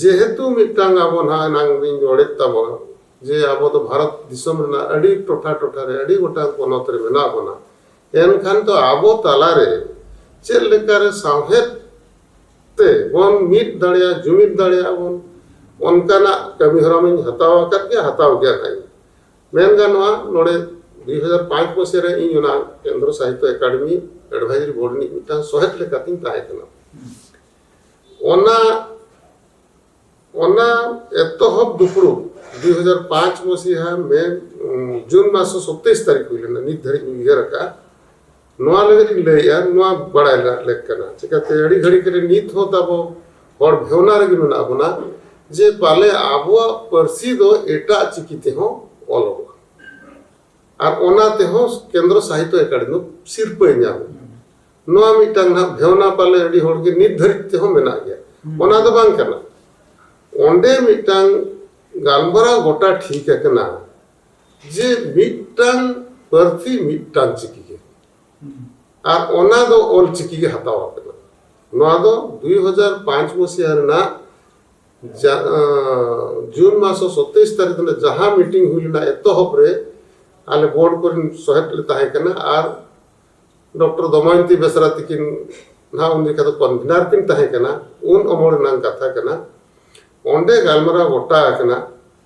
ᱡᱮᱦᱮᱛᱩ ᱢᱤᱫᱴᱟᱝ ᱟᱵᱚ ᱱᱟᱦᱟᱜ ᱮᱱᱟᱝ ᱤᱧ ᱨᱚᱲᱮᱫ ᱛᱟᱵᱚᱱᱟ ᱡᱮ ᱟᱵᱚ ᱫᱚ ᱵᱷᱟᱨᱚᱛ ᱫᱤᱥᱚᱢ ᱨᱮᱱᱟᱜ ᱟᱹᱰᱤ ᱴᱚᱴᱷᱟ ᱴᱚᱴᱷᱟ ᱨᱮ ᱟᱹᱰᱤ ᱜᱚᱴᱟᱝ ᱯᱚᱱᱚᱛ ᱨᱮ ᱢᱮᱱᱟᱜ ᱵᱚᱱᱟ ᱮᱱᱠᱷᱟᱱ ᱫᱚ ᱟᱵᱚ ᱛᱟᱞᱟᱨᱮ ᱪᱮᱫ ᱞᱮᱠᱟᱨᱮ ᱥᱟᱶᱦᱮᱫ ᱛᱮ ᱵᱚᱱ ᱢᱤᱫ ᱫᱟᱲᱮᱭᱟᱜ ᱡᱩᱢᱤᱫ ᱫᱟᱲᱮᱭᱟᱜ ᱵᱚᱱ ᱚᱱᱠᱟᱱᱟᱜ ᱠᱟᱹᱢᱤ ᱦᱚᱨᱟ ᱢᱟᱧ ᱦᱟᱛᱟᱣ ᱟᱠᱟᱫ ᱜᱮᱭᱟ ᱦᱟᱛᱟᱣ ᱜᱮᱭᱟ ᱱᱟᱦᱟᱜ ᱢᱮᱱ ᱜᱟᱱᱚᱜᱼᱟ ᱱᱚᱰᱮ ᱫᱩᱭ ᱦᱟᱡᱟᱨ ᱯᱟᱸᱪ ᱢᱟᱥᱮ ᱨᱮ ᱤᱧ ᱚᱱᱟ ᱠᱮᱱᱫᱨᱚ ᱥᱟᱦᱤᱛᱛᱚ ᱮᱠᱟᱰᱮᱢᱤ ᱮᱰᱵᱷᱟᱭᱡᱟᱨᱤ ᱵᱳᱨᱰ ᱨᱤᱱᱤᱡ ᱢᱤᱫᱴᱟᱝ ᱥᱚᱦᱮᱫ ᱞᱮᱠᱟᱛᱤᱧ ᱛᱟᱦᱮᱸ ᱠᱟᱱᱟ ᱚᱱᱟ ᱚᱱᱟ ᱮᱛᱚᱦᱚᱵ ᱫᱩᱯᱲᱩᱵ ᱫᱩᱭ ᱦᱟᱡᱟᱨ ᱯᱟᱸᱪ ᱢᱟᱥᱤᱦᱟ ᱢᱮ ᱡᱩᱱ ᱢᱟᱥ ᱥᱚᱛᱮᱭᱤᱥ ᱛᱟᱹᱨᱤᱠᱷ ᱦᱩᱭ ᱞᱮᱱᱟ ᱱᱤᱛ ᱫᱷᱟᱹᱨᱤᱡ ᱤᱧ ᱩᱭᱦᱟᱹᱨ ᱟᱠᱟᱫᱼᱟ ᱱᱚᱣᱟ ᱞᱟᱹᱜᱤᱫ ᱤᱧ ᱞᱟᱹᱭᱮᱫᱼᱟ ᱱᱚᱣᱟ ᱵᱟᱲᱟᱭ ᱨᱮᱱᱟᱜ ᱞᱮᱠ ᱠᱟᱱᱟ ᱪᱤᱠᱟᱹᱛᱮ ᱟᱹᱰᱤ ᱜᱷᱟᱹᱲᱤᱡ ᱨᱮ ᱱᱤᱛ ᱦᱚᱸ ᱛᱟᱵᱚ ᱦᱚᱲ ᱵᱷᱮᱣᱱᱟ ᱨᱮᱜᱮ ᱢᱮᱱᱟᱜ ᱵᱚᱱᱟ ᱡᱮ ᱯᱟᱞᱮ ᱟᱵᱚᱣᱟᱜ ᱯᱟᱹᱨᱥᱤ ᱫᱚ ᱮᱴᱟᱜ ᱪᱤᱠᱤ ᱛᱮᱦᱚᱸ ᱚᱞᱚᱜᱼᱟ ᱟᱨ ᱚᱱᱟ ᱛᱮᱦᱚᱸ ᱠᱮᱱᱫᱨᱚ ᱥᱟᱦᱤᱛᱭᱚ ᱮᱠᱟᱰᱮᱢᱤ ᱥᱤᱨᱯᱟᱹᱭ ᱧᱟᱢᱟ ᱱᱚᱣᱟ ᱢᱤᱫᱴᱟᱝ ᱱᱟᱜ ᱵᱷᱮᱣᱱᱟ ᱯᱟᱞᱮ ᱟᱹᱰᱤ ᱦᱚᱲ ᱜᱮ ᱱᱤᱛ ᱫᱷᱟᱹᱨᱤᱡ ᱛᱮᱦᱚᱸ ᱢᱮᱱᱟᱜ ᱜᱮᱭᱟ ᱚᱱᱟ ᱫᱚ ᱵᱟᱝ ᱠᱟᱱᱟ ᱚᱸᱰᱮ ᱢᱤᱫᱴᱟᱝ ᱜᱟᱞᱢᱟᱨᱟᱣ ᱜᱚᱴᱟ ᱴᱷᱤᱠ ᱟᱠᱟᱱᱟ ᱡᱮ ᱢᱤᱫᱴᱟᱝ ᱯᱟᱹᱨᱥᱤ ᱢᱤᱫᱴᱟᱝ ᱪᱤᱠᱤ ᱜᱮ ᱟᱨ ᱚᱱᱟ ᱫᱚ ᱚᱞ ᱪᱤᱠᱤ ᱜᱮ ᱦᱟᱛᱟᱣ ᱟᱠᱟᱱᱟ ᱱᱚᱣᱟ ᱫᱚ ᱫᱩᱭ ᱦᱟᱡᱟᱨ ᱯᱟᱸᱪ ᱢᱩᱥᱤᱦᱟ ᱨᱮᱱᱟᱜ ᱡᱩᱱ ᱢᱟᱥᱚ ᱥᱚᱛᱮᱭᱤᱥ ᱛᱟᱹᱨᱤᱠᱷ ᱨᱮ ᱡᱟᱦᱟᱸ ᱢᱤᱴᱤᱝ ᱦᱩᱭ ᱞᱮᱱᱟ ᱮᱛᱚᱦᱚᱵ ᱨᱮ ᱟᱞᱮ ᱵᱳᱨᱰ ᱠᱚᱨᱮᱱ ᱥᱚᱦᱮᱫ ᱞᱮ ᱛᱟᱦᱮᱸ ᱠᱟᱱᱟ ᱟᱨ ᱰᱚᱠᱴᱚᱨ ᱫᱚᱢᱚᱭᱚᱱᱛᱤ ᱵᱮᱥᱨᱟ ᱛᱤᱠᱤᱱ ᱱᱟᱦᱟᱜ ᱩᱱ ᱡᱚᱠᱷᱟ ᱫᱚ ᱠᱚᱱᱵᱷᱮᱱᱟᱨ ᱠᱤᱱ ᱛᱟᱦᱮᱸ ᱠᱟᱱᱟ ᱩᱱ ᱚᱢᱚᱞ ᱨᱮᱱᱟᱜ ᱠᱟᱛᱷᱟ ᱠᱟᱱᱟ ᱚᱸᱰᱮ ᱜᱟᱞᱢᱟᱨᱟᱣ ᱜᱚᱴᱟ ᱟᱠᱟᱱᱟ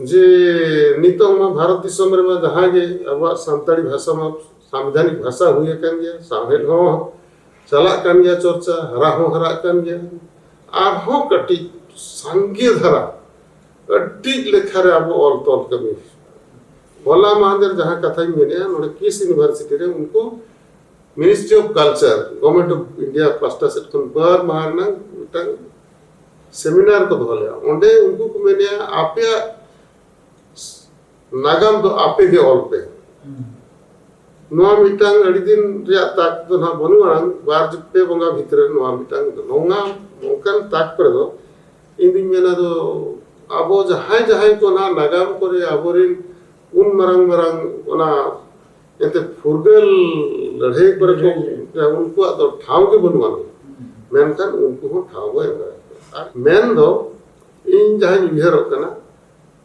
ᱡᱮ ᱱᱤᱛᱚᱜ ᱢᱟ ᱵᱷᱟᱨᱚᱛ ᱫᱤᱥᱚᱢ ᱨᱮᱢᱟ ᱡᱟᱦᱟᱸ ᱜᱮ ᱟᱵᱚᱣᱟᱜ ᱥᱟᱱᱛᱟᱲᱤ ᱵᱷᱟᱥᱟ ᱢᱟ ᱥᱟᱢᱵᱤᱫᱷᱟᱱᱤᱠ ᱵᱷᱟᱥᱟ ᱦᱩᱭ ᱟᱠᱟᱱ ᱜᱮᱭᱟ ᱥᱟᱶᱦᱮᱫ ᱦᱚᱸ ᱪᱟᱞᱟᱜ ᱠᱟᱱ ᱜᱮᱭᱟ ᱪᱚᱨᱪᱟ ᱦᱟᱨᱟ ᱦᱚᱸ ᱦᱟᱨᱟᱜ ᱠᱟᱱ ᱜᱮᱭᱟ ᱟᱨᱦᱚᱸ ᱠᱟᱹᱴᱤᱡ ᱥᱟᱸᱜᱮ ᱫᱷᱟᱨᱟ ᱟᱹᱰᱤ ᱞᱮᱠᱷᱟ ᱨᱮ ᱟᱵᱚ ᱚᱞ ᱛᱚᱞ ᱠᱟᱹᱢᱤ ᱦᱚᱞᱟ ᱢᱟᱦᱫᱮᱨ ᱡᱟᱦᱟᱸ ᱠᱟᱛᱷᱟᱧ ᱢᱮᱱᱮᱜᱼᱟ ᱱᱚᱰᱮ ᱠᱤᱥ ᱤᱭᱩᱱᱤᱵᱷᱟᱨᱥᱤᱴᱤ ᱨᱮ ᱩᱱᱠᱩ ministry of culture government of India ᱯᱟᱥᱴᱟ ᱥᱮᱫ ᱠᱷᱚᱱ ᱵᱟᱨ ᱢᱟᱦᱟ ᱨᱮᱱᱟᱜ ᱢᱤᱫᱴᱟᱝ ᱥᱮᱢᱤᱱᱟᱨ ᱠᱚ ᱫᱚᱦᱚ ᱞᱮᱫᱟ ᱚᱸᱰᱮ ᱩᱱᱠᱩ ᱠᱚ ᱢᱮᱱᱮᱫᱼᱟ ᱟᱯᱮᱭᱟᱜ ᱱᱟᱜᱟᱢ ᱫᱚ ᱟᱯᱮ ᱜᱮ ᱚᱞ ᱯᱮ ᱱᱚᱣᱟ ᱢᱤᱫᱴᱟᱝ ᱟᱹᱰᱤ ᱫᱤᱱ ᱨᱮᱭᱟᱜ ᱛᱟᱠ ᱫᱚ ᱱᱟᱦᱟᱜ ᱵᱟᱹᱱᱩᱜ ᱟᱱᱟᱝ ᱵᱟᱨ ᱯᱮ ᱵᱚᱸᱜᱟ ᱵᱷᱤᱛᱨᱤ ᱨᱮ ᱱᱚᱣᱟ ᱢᱤᱫᱴᱟᱝ ᱱᱚᱣᱟ ᱱᱚᱝᱠᱟᱱ ᱛᱟᱠ ᱠᱚᱨᱮ ᱫᱚ ᱤᱧ ᱫᱩᱧ ᱢᱮᱱᱟ ᱫᱚ ᱟᱵᱚ ᱡᱟᱦᱟᱸᱭ ᱡᱟᱦᱟᱸᱭ ᱠᱚ ᱱᱟᱦᱟᱜ ᱱᱟᱜᱟᱢ ᱠᱚᱨᱮ ᱟᱵᱚᱨᱮᱱ ᱩᱱ ᱢᱟᱨᱟᱝ ᱢᱟᱨᱟᱝ ᱚᱱᱟ ᱮᱱᱛᱮ ᱯᱷᱩᱨᱜᱟᱹᱞ ᱞᱟᱹᱲᱦᱟᱹᱭ ᱠᱚᱨᱮ ᱠᱚ ᱩᱱᱠᱩᱣᱟᱜ ᱫᱚ ᱴᱷᱟᱶ ᱜᱮ ᱵᱟᱹᱱᱩᱜ ᱟᱱ ᱢᱮᱱᱠᱷᱟᱱ ᱩᱱᱠᱩ ᱦᱚᱸ ᱴᱷᱟᱶ ᱵᱚ ᱮᱢ ᱫᱟᱲᱮᱭᱟᱜ ᱟᱨ ᱢᱮᱱ ᱫᱚ ᱤᱧ ᱡᱟᱦᱟᱸᱧ ᱩᱭᱦᱟᱹᱨᱚᱜ ᱠᱟᱱᱟ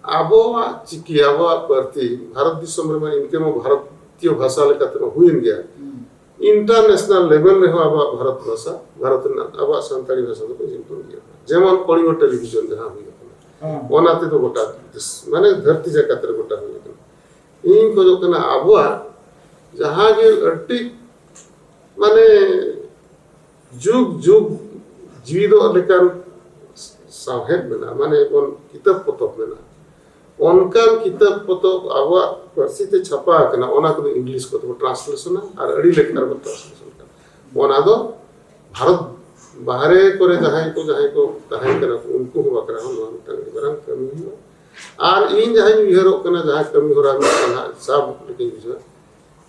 ᱟᱵᱚᱣᱟᱜ ᱪᱤᱠᱤ ᱟᱵᱚᱣᱟᱜ ᱯᱟᱹᱨᱥᱤ ᱵᱷᱟᱨᱚᱛ ᱫᱤᱥᱚᱢ ᱨᱮᱢᱟ ᱤᱱᱠᱟᱹ ᱢᱟ ᱵᱷᱟᱨᱚᱛᱤᱭᱚ ᱵᱷᱟᱥᱟ ᱞᱮᱠᱟᱛᱮ ᱢᱟ ᱦᱩᱭᱮᱱ ᱜᱮᱭᱟ ᱤᱱᱴᱟᱨᱱᱮᱥᱱᱟᱞ ᱞᱮᱵᱮᱞ ᱨᱮᱦᱚᱸ ᱟᱵᱚᱣᱟᱜ ᱵᱷᱟᱨᱚᱛ ᱵᱷᱟᱥᱟ ᱵᱷᱟᱨᱚᱛ ᱨᱮᱱᱟᱜ ᱟᱵᱚᱣᱟᱜ ᱥᱟᱱᱛᱟᱲᱤ ᱵᱷᱟᱥᱟ ᱫᱚᱠᱚ ᱧᱩᱛᱩᱢ ᱜᱮᱭᱟ ᱡᱮᱢᱚᱱ ᱠᱚᱞᱤᱝᱜᱚ ᱴᱮᱞᱤᱵᱷᱤᱡᱚᱱ ᱡᱟᱦᱟᱸ ᱦᱩᱭ ᱟᱠᱟᱱᱟ ᱚᱱᱟ ᱛᱮᱫᱚ ᱜᱚᱴᱟ ᱢᱟᱱᱮ ᱫᱷᱟᱹᱨᱛᱤ ᱡᱟᱠᱟᱛ ᱨᱮ ᱜᱚᱴᱟ ᱦᱩᱭ ᱤᱧ ᱠᱷᱚᱡᱚᱜ ᱠᱟᱱᱟ ᱟᱵᱚᱣᱟᱜ ᱡᱟᱦᱟᱸ ᱜᱮ ᱟᱹᱰᱤ ᱢᱟᱱᱮ ᱡᱩᱜᱽ ᱡᱩᱜᱽ ᱡᱤᱣᱤᱫᱚᱜ ᱞᱮᱠᱟᱱ ᱥᱟᱶᱦᱮᱫ ᱢᱮᱱᱟᱜᱼᱟ ᱢᱟᱱᱮ ᱵᱚᱱ ᱠᱤᱛᱟᱹᱵ ᱯᱚᱛᱚᱵ ᱢᱮᱱᱟᱜᱼᱟ ᱚᱱᱠᱟᱱ ᱠᱤᱛᱟᱹᱵ ᱯᱚᱛᱚᱵ ᱟᱵᱚᱣᱟᱜ ᱯᱟᱹᱨᱥᱤ ᱛᱮ ᱪᱷᱟᱯᱟ ᱟᱠᱟᱱᱟ ᱚᱱᱟ ᱠᱚᱫᱚ ᱤᱝᱞᱤᱥ ᱠᱚᱛᱮ ᱵᱚᱱ ᱴᱨᱟᱱᱥᱞᱮᱥᱚᱱᱟ ᱟᱨ ᱟᱹᱰᱤ ᱞᱮᱠᱟ ᱨᱮᱵᱚᱱ ᱴᱨᱟᱱᱥᱞᱮᱥᱚᱱ ᱠᱟᱱᱟ ᱚᱱᱟ ᱫᱚ ᱵᱷᱟᱨᱚᱛ ᱵᱟᱦᱨᱮ ᱠᱚᱨᱮ ᱡᱟᱦᱟᱸᱭ ᱠᱚ ᱡᱟᱦᱟᱸᱭ ᱠᱚ ᱛᱟᱦᱮᱸ ᱠᱟᱱᱟ ᱠᱚ ᱩᱱᱠᱩ ᱦᱚᱸ ᱵᱟᱠᱷᱨᱟ ᱦᱚᱸ ᱱᱚᱣᱟ ᱢᱤᱫᱴᱟᱝ ᱟᱹᱰᱤ ᱢᱟᱨᱟᱝ ᱠᱟᱹᱢᱤ ᱦᱩᱭᱩᱜᱼᱟ ᱟᱨ ᱤᱧ ᱡᱟᱦᱟᱸᱧ ᱩᱭᱦᱟᱹᱨᱚᱜ ᱠᱟᱱᱟ ᱡᱟᱦᱟᱸ ᱠᱟᱹᱢᱤ ᱦᱚᱨᱟ ᱢᱤᱫᱴᱟᱝ ᱦᱟᱸᱜ ᱥᱟᱵ ᱞᱮᱠᱟᱧ ᱵᱩᱡᱷᱟᱹᱣᱟ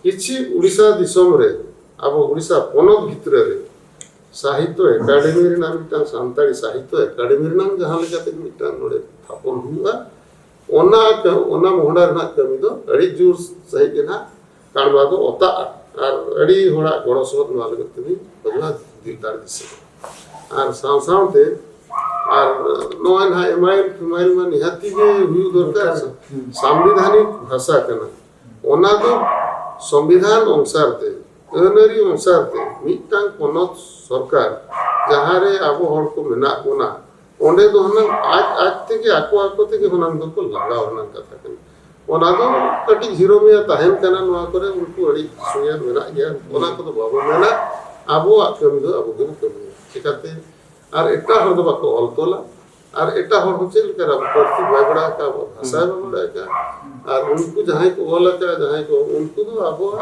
ᱠᱤᱪᱷᱩ ᱩᱲᱤᱥᱥᱟ ᱫᱤᱥᱚᱢ ᱨᱮ ᱟᱵᱚ ᱩᱲᱤᱥᱥᱟ ᱯᱚᱱᱚᱛ ᱵᱷᱤᱛᱨᱤ ᱨᱮ ᱥᱟᱦᱤᱛᱛᱚ ᱮᱠᱟᱰᱮᱢᱤ ᱨᱮᱱᱟᱜ ᱢᱤᱫᱴᱟᱝ ᱥᱟᱱᱛᱟᱲᱤ ᱥᱟᱦᱤᱛᱛᱚ ᱮᱠᱟᱰᱮᱢᱤ ᱨᱮᱱᱟᱜ ᱡᱟᱦᱟᱸ ᱞᱮᱠᱟᱛᱮ ᱢᱤᱫᱴᱟᱝ ᱱᱚᱰᱮ ᱛᱷᱟᱯᱚᱱ ᱦᱩᱭᱩᱜᱼᱟ ᱚᱱᱟ ᱚᱱᱟ ᱢᱚᱦᱰᱟ ᱨᱮᱱᱟᱜ ᱠᱟᱹᱢᱤ ᱫᱚ ᱟᱹᱰᱤ ᱡᱳᱨ ᱥᱟᱺᱦᱤᱡ ᱜᱮ ᱦᱟᱸᱜ ᱠᱟᱬᱵᱟ ᱫᱚ ᱚᱛᱟᱜᱼᱟ ᱟᱨ ᱟᱹᱰᱤ ᱦᱚᱲᱟᱜ ᱜᱚᱲᱚ ᱥᱚᱦᱚᱫ ᱱᱚᱣᱟ ᱞᱟᱹᱜᱤᱫ ᱛᱮᱞᱤᱧ ᱵᱟᱝᱞᱟ ᱫᱤᱞ ᱫᱟᱲᱮ ᱫᱤᱥᱟᱹ ᱟᱨ ᱥᱟᱶ ᱥᱟᱶᱛᱮ ᱟᱨ ᱱᱚᱣᱟ ᱱᱟᱦᱟᱜ ᱮᱢᱟᱭᱤᱞ ᱯᱷᱮᱢᱟᱭᱤᱞ ᱢᱟ ᱱᱤᱦᱟᱹᱛᱤ ᱜᱮ ᱦᱩᱭᱩᱜ ᱫᱚᱨᱠᱟᱨ ᱥᱟᱢᱵᱤᱫᱷᱟᱱᱤᱠ ᱵᱷᱟᱥᱟ ᱠᱟᱱᱟ ᱚᱱᱟ ᱫᱚ ᱥᱚᱝᱵᱤᱫᱷᱟᱱ ᱚᱱᱩᱥᱟᱨ ᱛᱮ ᱟᱹᱱᱟᱹᱨᱤ ᱚᱱᱩᱥᱟᱨ ᱛᱮ ᱢᱤᱫᱴᱟᱝ ᱯᱚᱱᱚᱛ ᱥᱚᱨᱠᱟᱨ ᱡᱟᱦᱟᱸᱨᱮ ᱟᱵᱚ ᱦᱚᱲ ᱠᱚ ᱢᱮᱱᱟᱜ ᱵᱚᱱᱟ ᱚᱸᱰᱮ ᱫᱚ ᱦᱩᱱᱟᱹᱝ ᱟᱡ ᱟᱡ ᱛᱮᱜᱮ ᱟᱠᱚ ᱟᱠᱚ ᱛᱮᱜᱮ ᱦᱩᱱᱟᱹᱝ ᱫᱚᱠᱚ ᱞᱟᱜᱟᱣ ᱨᱮᱱᱟᱜ ᱠᱟᱛᱷᱟ ᱠᱟᱱᱟ ᱚᱱᱟ ᱫᱚ ᱠᱟᱹᱴᱤᱡ ᱦᱤᱨᱳ ᱢᱮᱭᱟ ᱛᱟᱦᱮᱱ ᱠᱟᱱᱟ ᱱᱚᱣᱟ ᱠᱚᱨᱮ ᱩᱱᱠᱩ ᱟᱹᱰᱤ ᱥᱩᱭᱟ ᱢᱮᱱᱟᱜ ᱜᱮᱭᱟ ᱚᱱᱟ ᱠᱚᱫᱚ ᱵᱟᱵᱚ ᱢᱮᱱᱟ ᱟᱵᱚᱣᱟᱜ ᱠᱟᱹᱢᱤ ᱫᱚ ᱟᱵᱚ ᱜᱮᱵᱚ ᱠᱟᱹᱢᱤᱭᱟ ᱪᱤᱠᱟᱛᱮ ᱟᱨ ᱮᱴᱟᱜ ᱦᱚᱲ ᱫᱚ ᱵᱟᱠᱚ ᱚᱞ ᱛᱚᱞᱟ ᱟᱨ ᱮᱴᱟᱜ ᱦᱚᱲ ᱦᱚᱸ ᱪᱮᱫ ᱞᱮᱠᱟ ᱟᱵᱚ ᱯᱟᱹᱨᱥᱤ ᱵᱟᱭ ᱵᱟᱲᱟᱭ ᱟᱠᱟᱫ ᱟᱵᱚ ᱵᱷᱟᱥᱟ ᱵᱟᱭ ᱵᱟᱲᱟᱭ ᱟᱠᱟᱫ ᱟᱨ ᱩᱱᱠᱩ ᱡᱟᱦᱟᱸᱭ ᱠᱚ ᱚᱞ ᱟᱠᱟᱫ ᱡᱟᱦᱟᱸᱭ ᱠᱚ ᱩᱱᱠᱩ ᱫᱚ ᱟᱵᱚᱣᱟᱜ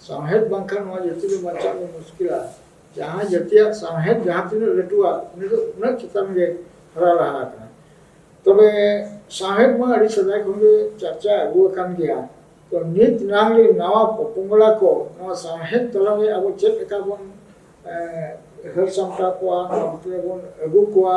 ᱥᱟᱶᱦᱮᱫ ᱵᱟᱝᱠᱷᱟᱱ ᱱᱚᱣᱟ ᱡᱟᱹᱛᱤ ᱫᱚ ᱵᱟᱧᱪᱟᱜ ᱫᱚ ᱢᱩᱥᱠᱤᱞᱟ ᱡᱟᱦᱟᱸ ᱡᱟᱹᱛᱤᱭᱟᱜ ᱥᱟᱶᱦᱮᱫ ᱡᱟᱦᱟᱸ ᱛᱤᱱᱟᱹᱜ ᱞᱟᱹᱴᱩᱣᱟ ᱩᱱᱤ ᱫᱚ ᱩᱱᱟᱹᱜ ᱪᱮᱛᱟᱱ ᱜᱮ ᱦᱟᱨᱟ ᱞᱟᱦᱟ ᱟᱠᱟᱱᱟ ᱛᱚᱵᱮ ᱥᱟᱶᱦᱮᱫ ᱢᱟ ᱟᱹᱰᱤ ᱥᱮᱫᱟᱭ ᱠᱷᱚᱱ ᱜᱮ ᱪᱟᱨᱪᱟ ᱟᱹᱜᱩ ᱟᱠᱟᱱ ᱜᱮᱭᱟ ᱛᱚ ᱱᱤᱛ ᱱᱟᱝ ᱨᱮ ᱱᱟᱣᱟ ᱯᱚᱯᱚᱝᱲᱟ ᱠᱚ ᱱᱚᱣᱟ ᱥᱟᱶᱦᱮᱫ ᱛᱟᱞᱟᱨᱮ ᱟᱵᱚ ᱪᱮᱫ ᱞᱮᱠᱟ ᱵᱚᱱ ᱦᱟᱹᱨ ᱥᱟᱢᱴᱟᱣ ᱠᱚᱣᱟ ᱱᱚᱣᱟ ᱵᱷᱤᱛᱨᱤ ᱨᱮᱵᱚᱱ ᱟᱹᱜᱩ ᱠᱚᱣᱟ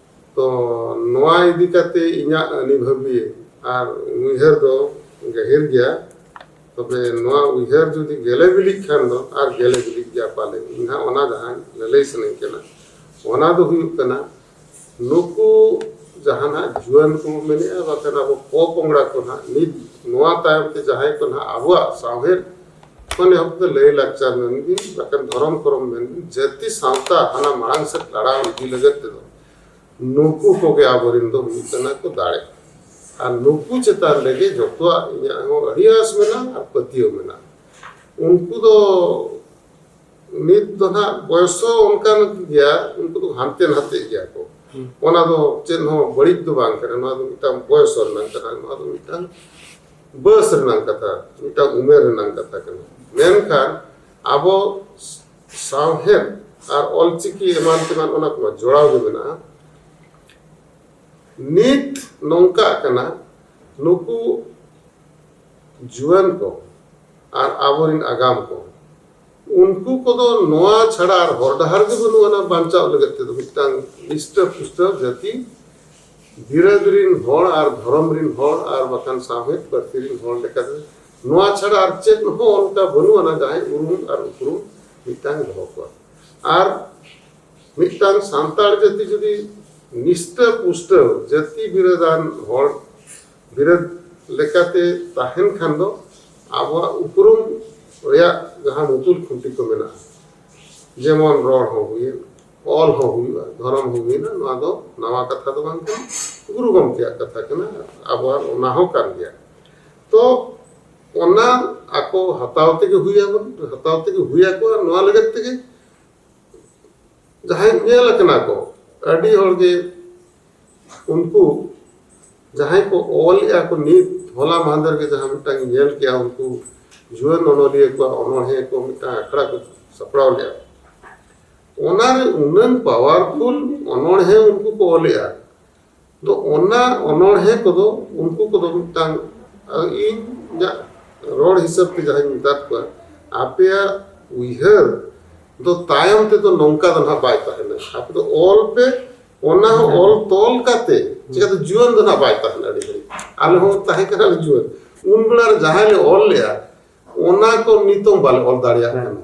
ᱛᱚ ᱱᱚᱣᱟ ᱤᱫᱤ ᱠᱟᱛᱮ ᱤᱧᱟᱹᱜ ᱟᱹᱱᱤᱵᱷᱟᱹᱵᱤ ᱟᱨ ᱩᱭᱦᱟᱹᱨ ᱫᱚ ᱜᱟᱹᱦᱤᱨ ᱜᱮᱭᱟ ᱛᱚᱵᱮ ᱱᱚᱣᱟ ᱩᱭᱦᱟᱹᱨ ᱡᱩᱫᱤ ᱜᱮᱞᱮ ᱵᱤᱞᱤᱜ ᱠᱷᱟᱱ ᱫᱚ ᱟᱨ ᱜᱮᱞᱮ ᱵᱤᱞᱤᱜ ᱜᱮᱭᱟ ᱯᱟᱞᱮ ᱤᱧ ᱦᱟᱸᱜ ᱚᱱᱟ ᱡᱟᱦᱟᱸ ᱞᱟᱹᱞᱟᱹᱭ ᱥᱟᱱᱟᱧ ᱠᱟᱱᱟ ᱚᱱᱟ ᱫᱚ ᱦᱩᱭᱩᱜ ᱠᱟᱱᱟ ᱱᱩᱠᱩ ᱡᱟᱦᱟᱱᱟᱜ ᱡᱩᱣᱟᱹᱱ ᱠᱚ ᱢᱮᱱᱮᱜᱼᱟ ᱵᱟᱠᱷᱟᱱ ᱟᱵᱚ ᱯᱚᱼᱯᱚᱝᱲᱟ ᱠᱚ ᱦᱟᱸᱜ ᱱᱤᱛ ᱱᱚᱣᱟ ᱛᱟᱭᱚᱢ ᱛᱮ ᱡᱟᱦᱟᱸᱭ ᱠᱚ ᱦᱟᱸᱜ ᱟᱵᱚᱣᱟᱜ ᱥᱟᱶᱦᱮᱫ ᱢᱟᱱᱮ ᱦᱚᱸ ᱫᱚ ᱞᱟᱹᱭ ᱞᱟᱠᱪᱟᱨ ᱢᱮᱱ ᱜᱮ ᱵᱟᱠᱷᱟᱱ ᱫᱷᱚᱨᱚᱢ ᱠᱚᱨᱚᱢ ᱢᱮᱱ ᱜᱮ ᱡᱟᱹᱛᱤ ᱥᱟᱶᱛᱟ ᱦᱟᱱᱟ ᱢᱟᱲᱟᱝ ᱥᱮᱫ ᱞᱟᱲᱟᱣ ᱤᱫᱤ ᱞᱟᱹᱜᱤᱫ ᱛᱮᱫᱚ ᱱᱩᱠᱩ ᱠᱚᱜᱮ ᱟᱵᱚᱨᱮᱱ ᱫᱚ ᱦᱩᱭᱩᱜ ᱠᱟᱱᱟ ᱠᱚ ᱫᱟᱲᱮ ᱟᱨ ᱱᱩᱠᱩ ᱪᱮᱛᱟᱱ ᱨᱮᱜᱮ ᱡᱚᱛᱚᱣᱟᱜ ᱤᱧᱟᱹᱜ ᱦᱚᱸ ᱟᱹᱰᱤ ᱟᱸᱥ ᱢᱮᱱᱟᱜᱼᱟ ᱟᱨ ᱯᱟᱹᱛᱭᱟᱹᱣ ᱢᱮᱱᱟᱜᱼᱟ ᱩᱱᱠᱩ ᱫᱚ ᱱᱤᱛ ᱫᱚ ᱱᱟᱦᱟᱜ ᱵᱚᱭᱚᱥ ᱦᱚᱸ ᱚᱱᱠᱟᱱ ᱜᱮᱭᱟ ᱩᱱᱠᱩ ᱫᱚ ᱦᱟᱱᱛᱮ ᱱᱟᱛᱮ ᱜᱮᱭᱟ ᱠᱚ ᱚᱱᱟ ᱫᱚ ᱪᱮᱫ ᱦᱚᱸ ᱵᱟᱹᱲᱤᱡ ᱫᱚ ᱵᱟᱝ ᱠᱟᱱᱟ ᱱᱚᱣᱟ ᱫᱚ ᱢᱤᱫᱴᱟᱝ ᱵᱚᱭᱚᱥ ᱨᱮᱱᱟᱜ ᱠᱟᱱᱟ ᱱᱚᱣᱟ ᱫᱚ ᱢᱤᱫᱴᱟᱝ ᱵᱚᱭᱚᱥ ᱨᱮᱱᱟᱜ ᱠᱟᱛᱷᱟ ᱢᱤᱫᱴᱟᱝ ᱩᱢᱮᱨ ᱨᱮᱱᱟᱜ ᱠᱟᱛᱷᱟ ᱠᱟᱱᱟ ᱢᱮᱱᱠᱷᱟᱱ ᱟᱵᱚ ᱥᱟᱶᱦᱮᱫ ᱟᱨ ᱚᱞᱪᱤᱠᱤ ᱮᱢᱟᱱ ᱛᱮᱢᱟᱱ ᱚᱱᱟ ᱠᱚᱢᱟ ᱡᱚᱲᱟᱣ ᱜᱮ ᱢᱮᱱᱟᱜᱼᱟ ᱱᱤᱛ ᱱᱚᱝᱠᱟᱜ ᱠᱟᱱᱟ ᱱᱩᱠᱩ ᱡᱩᱣᱟᱹᱱ ᱠᱚ ᱟᱨ ᱟᱵᱚᱨᱮᱱ ᱟᱜᱟᱢ ᱠᱚ ᱩᱱᱠᱩ ᱠᱚᱫᱚ ᱱᱚᱣᱟ ᱪᱷᱟᱲᱟ ᱟᱨ ᱦᱚᱨ ᱰᱟᱦᱟᱨ ᱜᱮ ᱵᱟᱹᱱᱩᱜ ᱟᱱᱟ ᱵᱟᱧᱪᱟᱣ ᱞᱟᱹᱜᱤᱫ ᱛᱮᱫᱚ ᱢᱤᱫᱴᱟᱝ ᱱᱤᱥᱴᱟᱹ ᱯᱩᱥᱴᱟᱹ ᱡᱟᱹᱛᱤ ᱵᱤᱨᱟᱹᱫ ᱨᱤᱱ ᱦᱚᱲ ᱟᱨ ᱫᱷᱚᱨᱚᱢ ᱨᱤᱱ ᱦᱚᱲ ᱟᱨ ᱵᱟᱠᱷᱟᱱ ᱥᱟᱶᱦᱮᱫ ᱯᱟᱹᱨᱥᱤ ᱨᱤᱱ ᱦᱚᱲ ᱞᱮᱠᱟᱛᱮ ᱱᱚᱣᱟ ᱪᱷᱟᱲᱟ ᱟᱨ ᱪᱮᱫ ᱦᱚᱸ ᱚᱱᱠᱟ ᱵᱟᱹᱱᱩᱜ ᱟᱱᱟ ᱡᱟᱦᱟᱸᱭ ᱩᱨᱩᱢ ᱟᱨ ᱩᱯᱨᱩᱢ ᱢᱤᱫᱴᱟᱝ ᱫᱚᱦᱚ ᱠᱚᱣᱟ ᱟᱨ ᱢᱤᱫᱴᱟᱝ ᱥᱟᱱᱛᱟᱲ ᱡᱟᱹᱛᱤ ᱡᱩᱫᱤ ᱱᱤᱥᱴᱟᱹ ᱯᱩᱥᱴᱟᱹ ᱡᱟᱹᱛᱤ ᱵᱤᱨᱟᱹᱫᱟᱱ ᱦᱚᱲ ᱵᱤᱨᱟᱹᱫ ᱞᱮᱠᱟᱛᱮ ᱛᱟᱦᱮᱱ ᱠᱷᱟᱱ ᱫᱚ ᱟᱵᱚᱣᱟᱜ ᱩᱯᱨᱩᱢ ᱨᱮᱭᱟᱜ ᱡᱟᱦᱟᱸ ᱢᱩᱛᱩᱞ ᱠᱷᱩᱱᱴᱤ ᱠᱚ ᱢᱮᱱᱟᱜᱼᱟ ᱡᱮᱢᱚᱱ ᱨᱚᱲ ᱦᱚᱸ ᱦᱩᱭᱮᱱ ᱚᱞ ᱦᱚᱸ ᱦᱩᱭᱩᱜᱼᱟ ᱫᱷᱚᱨᱚᱢ ᱦᱚᱸ ᱦᱩᱭᱱᱟ ᱱᱚᱣᱟ ᱫᱚ ᱱᱟᱣᱟ ᱠᱟᱛᱷᱟ ᱫᱚ ᱵᱟᱝ ᱠᱟᱱᱟ ᱜᱩᱨᱩ ᱜᱚᱢᱠᱮᱭᱟᱜ ᱠᱟᱛᱷᱟ ᱠᱟᱱᱟ ᱟᱵᱚᱣᱟᱜ ᱚᱱᱟ ᱦᱚᱸ ᱠᱟᱱ ᱜᱮᱭᱟ ᱛᱚ ᱚᱱᱟ ᱟᱠᱚ ᱦᱟᱛᱟᱣ ᱛᱮᱜᱮ ᱦᱩᱭᱟᱵᱚᱱ ᱦᱟᱛᱟᱣ ᱛᱮᱜᱮ ᱦᱩᱭᱟᱠᱚᱣᱟ ᱱᱚᱣᱟ ᱞᱟᱹᱜᱤᱫ ᱛᱮᱜᱮ ᱡᱟᱦᱟᱸᱭ ᱧᱮᱞ ᱟᱠᱟᱱᱟ ᱠᱚ ᱟᱹᱰᱤ ᱦᱚᱲ ᱜᱮ ᱩᱱᱠᱩ ᱡᱟᱦᱟᱸᱭ ᱠᱚ ᱚᱞᱮᱜᱼᱟ ᱠᱚ ᱱᱤᱛ ᱦᱚᱞᱟ ᱢᱟᱦᱫᱮᱨ ᱜᱮ ᱡᱟᱦᱟᱸ ᱢᱤᱫᱴᱟᱝ ᱧᱮᱞ ᱠᱮᱜᱼᱟ ᱩᱱᱠᱩ ᱡᱩᱣᱟᱹᱱ ᱚᱱᱚᱞᱤᱭᱟᱹ ᱠᱚᱣᱟᱜ ᱚᱱᱚᱬᱦᱮᱸ ᱠᱚ ᱢᱤᱫᱴᱟᱝ ᱟᱠᱷᱲᱟ ᱠᱚ ᱥᱟᱯᱲᱟᱣ ᱞᱮᱜᱼᱟ ᱚᱱᱟᱨᱮ ᱩᱱᱟᱹᱝ ᱯᱟᱣᱟᱨᱯᱷᱩᱞ ᱚᱱᱚᱬᱦᱮᱸ ᱩᱱᱠᱩ ᱠᱚ ᱚᱞᱮᱜᱼᱟ ᱫᱚ ᱚᱱᱟ ᱚᱱᱚᱬᱦᱮ ᱠᱚᱫᱚ ᱩᱱᱠᱩ ᱠᱚᱫᱚ ᱢᱤᱫᱴᱟᱝ ᱤᱧ ᱤᱧᱟᱹᱜ ᱨᱚᱲ ᱦᱤᱥᱟᱹᱵ ᱛᱮ ᱡᱟᱦᱟᱸᱧ ᱢᱮᱛᱟᱫ ᱠᱚᱣᱟ ᱟᱯᱮᱭᱟᱜ ᱩᱭᱦᱟᱹᱨ ᱫᱚ ᱛᱟᱭᱚᱢ ᱛᱮᱫᱚ ᱱᱚᱝᱠᱟ ᱫᱚ ᱱᱟᱦᱟᱜ ᱵᱟᱭ ᱛᱟᱦᱮᱱᱟ ᱟᱯᱮ ᱫᱚ ᱚᱞ ᱯᱮ ᱚᱱᱟ ᱦᱚᱸ ᱚᱞ ᱛᱚᱞ ᱠᱟᱛᱮ ᱪᱤᱠᱟᱹᱛᱮ ᱡᱩᱣᱟᱹᱱ ᱫᱚ ᱱᱟᱦᱟᱜ ᱵᱟᱭ ᱛᱟᱦᱮᱱᱟ ᱟᱹᱰᱤ ᱜᱷᱟᱹᱲᱤᱡ ᱟᱞᱮ ᱦᱚᱸ ᱛᱟᱦᱮᱸ ᱠᱟᱱᱟᱞᱮ ᱡᱩᱣᱟᱹᱱ ᱩᱱ ᱵᱮᱲᱟ ᱨᱮ ᱡᱟᱦᱟᱸᱭ ᱞᱮ ᱚᱞ ᱞᱮᱜᱼᱟ ᱚᱱᱟ ᱠᱚ ᱱᱤᱛᱚᱝ ᱵᱟᱞᱮ ᱚᱞ ᱫᱟᱲᱮᱭᱟᱜ ᱠᱟᱱᱟ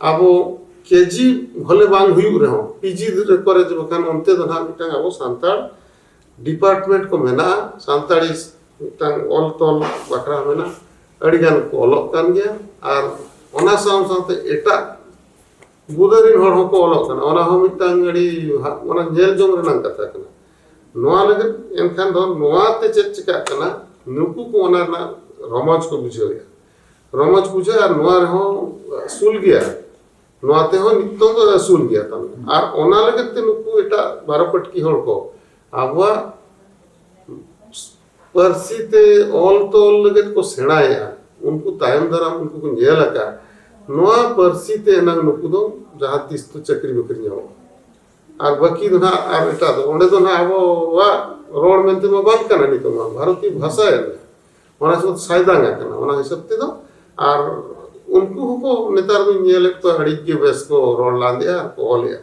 ᱟᱵᱚ ᱠᱮᱡᱤ ᱵᱷᱚᱞᱮ ᱵᱟᱝ ᱦᱩᱭᱩᱜ ᱨᱮᱦᱚᱸ ᱯᱤᱡᱤ ᱠᱚᱨᱮ ᱵᱟᱠᱷᱟᱱ ᱚᱱᱛᱮ ᱫᱚ ᱱᱟᱦᱟᱜ ᱢᱤᱫᱴᱟᱝ ᱟᱵᱚ ᱥᱟᱱᱛᱟᱲ ᱰᱤᱯᱟᱨᱴᱢᱮᱱᱴ ᱠᱚ ᱢᱮᱱᱟᱜᱼᱟ ᱥᱟᱱᱛᱟᱲᱤ ᱢᱤᱫᱴᱟᱝ ᱚᱞ ᱛᱚᱞ ᱵᱟᱠᱷᱨᱟ ᱢᱮᱱᱟᱜᱼᱟ ᱟᱹᱰᱤ ᱜᱟᱱ ᱠᱚ ᱚᱞᱚᱜ ᱠᱟᱱ ᱜᱮᱭᱟ ᱟᱨ ᱚᱱᱟ ᱥᱟᱶ ᱥᱟᱶᱛᱮ ᱮᱴᱟᱜ ᱵᱩᱫᱟᱹ ᱨᱮᱱ ᱦᱚᱲ ᱦᱚᱸᱠᱚ ᱚᱞᱚᱜ ᱠᱟᱱᱟ ᱚᱱᱟ ᱦᱚᱸ ᱢᱤᱫᱴᱟᱝ ᱟᱹᱰᱤ ᱚᱱᱟ ᱧᱮᱞ ᱡᱚᱝ ᱨᱮᱱᱟᱜ ᱠᱟᱛᱷᱟ ᱠᱟᱱᱟ ᱱᱚᱣᱟ ᱞᱟᱹᱜᱤᱫ ᱮᱱᱠᱷᱟᱱ ᱫᱚ ᱱᱚᱣᱟᱛᱮ ᱪᱮᱫ ᱪᱤᱠᱟᱹᱜ ᱠᱟᱱᱟ ᱱᱩᱠᱩ ᱠᱚ ᱚᱱᱟ ᱨᱮᱱᱟᱜ ᱨᱚᱢᱚᱡᱽ ᱠᱚ ᱵᱩᱡᱷᱟᱹᱣᱮᱫᱼᱟ ᱨᱚᱢᱚᱡᱽ ᱯᱩᱡᱟᱹ ᱟᱨ ᱱᱚᱣᱟ ᱨᱮᱦᱚᱸ ᱟᱹᱥᱩᱞ ᱜᱮᱭᱟ ᱱᱚᱣᱟ ᱛᱮᱦᱚᱸ ᱱᱤᱛᱚᱝ ᱫᱚ ᱟᱹᱥᱩᱞ ᱜᱮᱭᱟ ᱛᱟᱢᱟ ᱟᱨ ᱚᱱᱟ ᱞᱟᱹᱜᱤᱫ ᱛᱮ ᱱᱩᱠᱩ ᱮᱴᱟᱜ ᱵᱟᱨᱚ ᱯᱟᱹᱴᱠᱤ ᱦᱚᱲ ᱠᱚ ᱟᱵᱚᱣᱟᱜ ᱯᱟᱹᱨᱥᱤ ᱛᱮ ᱚᱞ ᱛᱚᱞ ᱞᱟᱹᱜᱤᱫ ᱠᱚ ᱥᱮᱬᱟᱭᱮᱫᱼᱟ ᱩᱱᱠᱩ ᱛᱟᱭᱚᱢ ᱫᱟᱨᱟᱢ ᱩᱱᱠᱩ ᱠᱚ ᱧᱮᱞ ᱟᱠᱟᱫ ᱱᱚᱣᱟ ᱯᱟᱹᱨᱥᱤ ᱛᱮ ᱮᱱᱟᱝ ᱱᱩᱠᱩ ᱫᱚ ᱡᱟᱦᱟᱸ ᱛᱤᱥ ᱫᱚ ᱪᱟᱹᱠᱨᱤ ᱵᱟᱹᱠᱨᱤ ᱧᱟᱢᱚᱜᱼᱟ ᱟᱨ ᱵᱟᱹᱠᱤ ᱫᱚ ᱱᱟᱜ ᱟᱨ ᱮᱴᱟᱜ ᱫᱚ ᱚᱸᱰᱮ ᱫᱚ ᱱᱟᱜ ᱟᱵᱚᱣᱟᱜ ᱨᱚᱲ ᱢᱮᱱᱛᱮ ᱢᱟ ᱵᱟᱝ ᱠᱟᱱᱟ ᱱᱤᱛᱚᱜ ᱢᱟ ᱵᱷᱟᱨᱚᱛᱤᱭᱚ ᱵᱷᱟᱥᱟ ᱮᱱᱟ ᱚᱱᱟ ᱦᱤᱥᱟᱹᱵ ᱥᱟᱭᱫᱟᱝ ᱟᱠᱟᱱᱟ ᱚᱱᱟ ᱦᱤᱥᱟᱹᱵ ᱛᱮᱫᱚ ᱟᱨ ᱩᱱᱠᱩ ᱦᱚᱸᱠᱚ ᱱᱮᱛᱟᱨ ᱫᱚᱧ ᱧᱮᱞᱮᱫ ᱠᱚᱣᱟ ᱟᱹᱰᱤ ᱜᱮ ᱵᱮᱥ ᱠᱚ ᱨᱚᱲ ᱞᱟᱸᱫᱮᱜᱼᱟ ᱟᱨ ᱠᱚ ᱚᱞᱮᱜᱼᱟ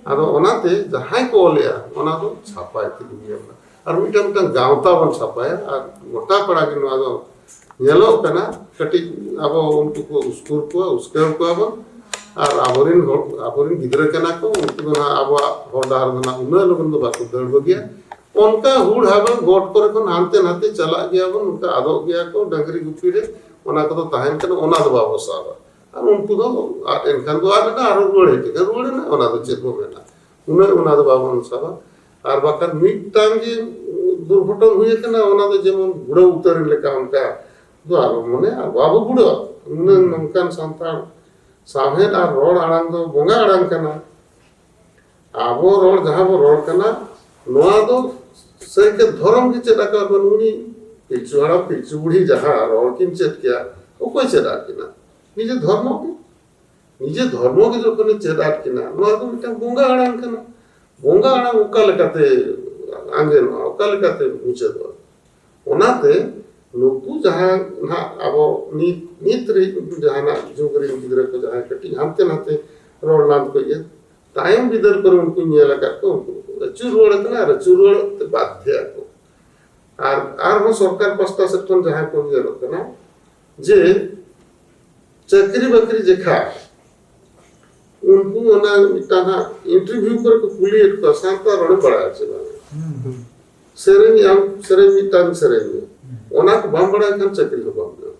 ᱟᱫᱚ ᱚᱱᱟᱛᱮ ᱡᱟᱦᱟᱸᱭ ᱠᱚ ᱚᱞᱮᱜᱼᱟ ᱚᱱᱟ ᱫᱚ ᱪᱷᱟᱯᱟᱭ ᱛᱮᱜᱮᱧ ᱧᱮᱞᱫᱟ ᱟᱨ ᱢᱤᱫᱴᱟᱝ ᱢᱤᱫᱴᱟᱝ ᱜᱟᱶᱛᱟ ᱵᱚᱱ ᱪᱷᱟᱯᱟᱭᱟ ᱟᱨ ᱜᱚᱴᱟ ᱯᱟᱲᱟ ᱜᱮ ᱱᱚᱣᱟ ᱫᱚ ᱧᱮᱞᱚᱜ ᱠᱟᱱᱟ ᱠᱟᱹᱴᱤᱡ ᱟᱵᱚ ᱩᱱᱠᱩ ᱠᱚ ᱩᱥᱠᱩᱨ ᱠᱚᱣᱟ ᱩᱥᱠᱟᱹᱣ ᱠᱚᱣᱟ ᱵᱚᱱ ᱟᱨ ᱟᱵᱚᱨᱮᱱ ᱦᱚᱲ ᱟᱵᱚᱨᱮᱱ ᱜᱤᱫᱽᱨᱟᱹ ᱠᱟᱱᱟ ᱠᱚ ᱩᱱᱠᱩ ᱫᱚ ᱱᱟᱦᱟᱜ ᱟᱵᱚᱣᱟᱜ ᱦᱚᱨ ᱰᱟᱦᱟᱨ ᱫᱚ ᱱᱟᱦᱟᱜ ᱩᱱᱟᱹᱜ ᱞᱚᱜᱚᱱ ᱫᱚ ᱵᱟᱠᱚ ᱫᱟᱹᱲ ᱵᱟᱹᱜᱤᱭᱟ ᱚᱱᱠᱟ ᱦᱩᱲ ᱦᱟᱵᱟᱝ ᱜᱚᱴ ᱠᱚᱨᱮ ᱠᱷᱚᱱ ᱦᱟᱱᱛᱮ ᱱᱟᱛᱮ ᱪᱟᱞᱟᱜ ᱜᱮᱭᱟ ᱵᱚᱱ ᱚᱱᱠᱟ ᱟᱫᱚᱜ ᱜᱮᱭᱟ ᱠᱚ ᱰᱟᱹᱝᱨᱤ ᱜᱩᱯᱤ ᱨᱮ ᱚᱱᱟ ᱠᱚᱫᱚ ᱛᱟᱦᱮᱱ ᱠᱟᱱᱟ ᱚᱱᱟ ᱫᱚ ᱵᱟᱵᱚ ᱥᱟᱵᱟ ᱟᱨ ᱩᱱᱠᱩ ᱫᱚ ᱟᱫ ᱮᱱᱠᱷᱟᱱ ᱫᱚ ᱟᱫ ᱮᱱᱟ ᱟᱨᱚ ᱨᱩᱣᱟᱹᱲ ᱦᱮᱡ ᱮᱱᱟ ᱨᱩᱣᱟᱹᱲ ᱮᱱᱟ ᱚᱱᱟ ᱫᱚ ᱪᱮᱫ ᱵᱚ ᱢᱮᱱᱟ ᱩᱱᱟᱹᱜ ᱚᱱᱟ ᱫᱚ ᱵᱟᱵᱚᱱ ᱥᱟᱵᱟ ᱟᱨ ᱵᱟᱠᱷᱟᱱ ᱢᱤᱫᱴᱟᱝ ᱜᱮ ᱫᱩᱨᱜᱷᱚᱴᱚᱱ ᱦᱩᱭ ᱟᱠᱟᱱᱟ ᱚᱱᱟ ᱫᱚ ᱡᱮᱢᱚᱱ ᱜᱩᱲᱟᱹᱣ ᱩᱛᱟᱹᱨ ᱞᱮᱠᱟ ᱚᱱᱠᱟ ᱫᱚ ᱟᱞᱚ ᱢᱚᱱᱮ ᱟᱨ ᱵᱟᱵᱚ ᱜᱩᱲᱟᱹᱣᱟ ᱩᱱᱟᱹᱜ ᱱᱚᱝᱠᱟᱱ ᱥᱟᱱᱛᱟᱲ ᱥᱟᱶᱦᱮᱫ ᱟᱨ ᱨᱚᱲ ᱟᱲᱟᱝ ᱫᱚ ᱵᱚᱸᱜᱟ ᱟᱲᱟᱝ ᱠᱟᱱᱟ ᱟᱵᱚ ᱨᱚᱲ ᱡᱟᱦᱟᱸ ᱵᱚ ᱨᱚᱲ ᱠᱟᱱᱟ ᱱᱚᱣᱟ ᱫᱚ ᱥᱟᱹᱨᱤᱜᱮ ᱫᱷᱚᱨᱚᱢ ᱜᱮ ᱪᱮᱫ ᱟᱠᱟᱫ ᱵᱚᱱ ᱩᱱᱤ ᱯᱤᱞᱪᱩ ᱦᱟᱲᱟᱢ ᱯᱤᱞᱪᱩ ᱵᱩᱲᱦᱤ ᱡᱟᱦᱟᱸ ᱨᱚᱲ ᱠᱤᱱ ᱪᱮᱫ ᱠᱮᱭᱟ ᱚᱠᱚᱭ ᱪᱮᱫ ᱟᱫ ᱠᱤᱱᱟ ᱱᱤᱡᱮ ᱫᱷᱚᱨᱢᱚ ᱜᱮ ᱱᱤᱡᱮ ᱫᱷᱚᱨᱢᱚ ᱜᱮ ᱡᱚᱠᱷᱚᱱᱮ ᱪᱮᱫ ᱟᱫ ᱠᱤᱱᱟ ᱱᱚᱣᱟ ᱫᱚ ᱢᱤᱫᱴᱟᱝ ᱵᱚᱸᱜᱟ ᱟᱲᱟᱝ ᱠᱟᱱᱟ ᱵᱚᱸᱜᱟ ᱟᱲᱟᱝ ᱚᱠᱟ ᱞᱮᱠᱟᱛᱮ ᱟᱸᱡᱮᱱᱚᱜᱼᱟ ᱚᱠᱟ ᱞᱮᱠᱟᱛᱮ ᱢᱩᱪᱟᱹᱫᱚᱜᱼᱟ ᱚᱱᱟᱛᱮ ᱱᱩᱠᱩ ᱡᱟᱦᱟᱸ ᱱᱟᱦᱟᱜ ᱟᱵᱚ ᱱᱤᱛ ᱱᱤᱛ ᱨᱮ ᱡᱟᱦᱟᱱᱟᱜ ᱡᱩᱜᱽ ᱨᱮᱱ ᱜᱤᱫᱽᱨᱟᱹ ᱠᱚ ᱡᱟᱦᱟᱸᱭ ᱠᱟᱹᱴᱤᱡ ᱦᱟᱱᱛᱮ ᱱᱟᱛᱮ ᱨᱚᱲ ᱞᱟᱸᱫᱽ ᱠᱚ ᱤᱭᱟᱹ ᱛᱟᱭᱚᱢ ᱵᱤᱫᱟᱹᱞ ᱠᱚᱨᱮ ᱩᱱᱠᱩ ᱧᱮᱞ ᱟᱠᱟᱫ ᱠᱚ ᱩᱱᱠᱩ ᱫᱚᱠᱚ ᱟᱹᱪᱩᱨ ᱨᱩᱣᱟᱹᱲ ᱟᱠᱟᱱᱟ ᱟᱨ ᱟᱹᱪᱩᱨ ᱨᱩᱣᱟᱹᱲ ᱛᱮ ᱵᱟᱫᱷᱮ ᱟᱠᱚ ᱟᱨ ᱟᱨᱦᱚᱸ ᱥᱚᱨᱠᱟᱨ ᱯᱟᱥᱴᱟ ᱥᱮᱫ ᱠᱷᱚᱱ ᱡᱟᱦᱟᱸ ᱠᱚ ᱧᱮᱞᱚᱜ ᱠᱟᱱᱟ ᱡᱮ ᱪᱟᱹᱠᱨᱤ ᱵᱟᱹᱠᱨᱤ ᱡᱮᱠᱷᱟ ᱩᱱᱠᱩ ᱚᱱᱟ ᱢᱤᱫᱴᱟᱝ ᱦᱟᱸᱜ ᱤᱱᱴᱟᱨᱵᱷᱤᱭᱩ ᱠᱚᱨᱮ ᱠᱚ ᱠᱩᱞᱤᱭᱮᱫ ᱠᱚᱣᱟ ᱥᱟᱱᱛᱟᱲ ᱨᱚᱲᱮ ᱵᱟᱲᱟᱭᱟ ᱥᱮ ᱵᱟᱝ ᱥᱮᱨᱮᱧ ᱟᱢ ᱥᱮᱨᱮᱧ ᱢᱤᱫᱴᱟᱝ ᱥᱮᱨᱮᱧ ᱢᱮ ᱚᱱᱟ ᱠᱚ ᱵᱟᱢ ᱵᱟᱲᱟᱭ ᱠᱷᱟᱱ ᱪᱟᱹᱠᱨᱤ ᱦᱚᱸ ᱵᱟᱢ ᱧᱟᱢᱟ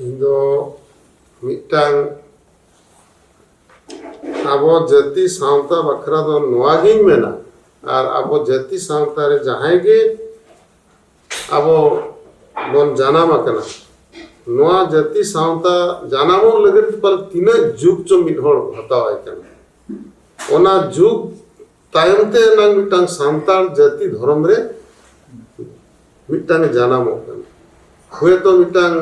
ᱤᱧ ᱫᱚ ᱢᱤᱫᱴᱟᱝ ᱟᱵᱚ ᱡᱟᱹᱛᱤ ᱥᱟᱶᱛᱟ ᱵᱟᱠᱷᱨᱟ ᱫᱚ ᱱᱚᱣᱟ ᱜᱤᱧ ᱢᱮᱱᱟ ᱟᱨ ᱟᱵᱚ ᱡᱟᱹᱛᱤ ᱥᱟᱶᱛᱟ ᱨᱮ ᱡᱟᱦᱟᱸᱭ ᱜᱮ ᱟᱵᱚ ᱵᱚᱱ ᱡᱟᱱᱟᱢ ᱟᱠᱟᱱᱟ ᱱᱚᱣᱟ ᱡᱟᱹᱛᱤ ᱥᱟᱶᱛᱟ ᱡᱟᱱᱟᱢᱚᱜ ᱞᱟᱹᱜᱤᱫ ᱯᱟᱞᱮ ᱛᱤᱱᱟᱹᱜ ᱡᱩᱜᱽ ᱪᱚ ᱢᱤᱫ ᱦᱚᱲ ᱦᱟᱛᱟᱣᱟᱭ ᱠᱟᱱᱟ ᱚᱱᱟ ᱡᱩᱜᱽ ᱛᱟᱭᱚᱢ ᱛᱮ ᱱᱟᱝ ᱢᱤᱫᱴᱟᱝ ᱥᱟᱱᱛᱟᱲ ᱡᱟᱹᱛᱤ ᱫᱷᱚᱨᱚᱢ ᱨᱮ ᱢᱤᱫᱴᱟᱝ ᱡᱟᱱᱟᱢᱚᱜ ᱠᱟᱱᱟ ᱦᱚᱭᱛᱚ ᱢᱤᱫᱴᱟᱝ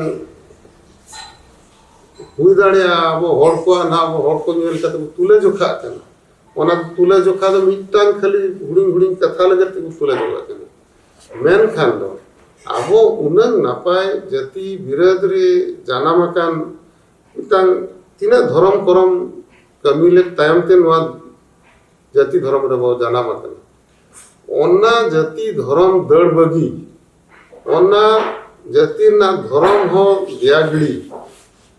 ᱦᱩᱭ ᱫᱟᱲᱮᱭᱟᱜᱼᱟ ᱟᱵᱚ ᱦᱚᱲ ᱠᱚᱣᱟᱜ ᱱᱟᱦᱟᱜ ᱟᱵᱚ ᱦᱚᱲ ᱠᱚ ᱧᱮᱞ ᱠᱟᱛᱮ ᱵᱚ ᱛᱩᱞᱟᱹ ᱡᱚᱠᱷᱟᱜ ᱠᱟᱱᱟ ᱚᱱᱟ ᱛᱩᱞᱟᱹ ᱡᱚᱠᱷᱟ ᱫᱚ ᱢᱤᱫᱴᱟᱝ ᱠᱷᱟᱹᱞᱤ ᱦᱩᱰᱤᱧ ᱦᱩᱰᱤᱧ ᱠᱟᱛᱷᱟ ᱞᱟᱹᱜᱤᱫ ᱛᱮᱵᱚ ᱛᱩᱞᱟᱹ ᱡᱚᱠᱷᱟᱜ ᱠᱟᱱᱟ ᱢᱮᱱᱠᱷᱟᱱ ᱫᱚ ᱟᱵᱚ ᱩᱱᱟᱹᱝ ᱱᱟᱯᱟᱭ ᱡᱟᱹᱛᱤ ᱵᱤᱨᱟᱹᱫ ᱨᱮ ᱡᱟᱱᱟᱢ ᱟᱠᱟᱱ ᱢᱤᱫᱴᱟᱝ ᱛᱤᱱᱟᱹᱜ ᱫᱷᱚᱨᱚᱢ ᱠᱚᱨᱚᱢ ᱠᱟᱹᱢᱤ ᱞᱮᱫ ᱛᱟᱭᱚᱢ ᱛᱮ ᱱᱚᱣᱟ ᱡᱟᱹᱛᱤ ᱫᱷᱚᱨᱚᱢ ᱨᱮᱵᱚ ᱡᱟᱱᱟᱢ ᱟᱠᱟᱱᱟ ᱚᱱᱟ ᱡᱟᱹᱛᱤ ᱫᱷᱚᱨᱚᱢ ᱫᱟᱹᱲ ᱵᱟᱹᱜᱤ ᱚᱱᱟ ᱡᱟᱹᱛᱤ ᱨᱮᱱᱟᱜ ᱫᱷᱚᱨᱚᱢ ᱦᱚᱸ ᱫᱮᱭᱟ ᱜᱤᱲᱤ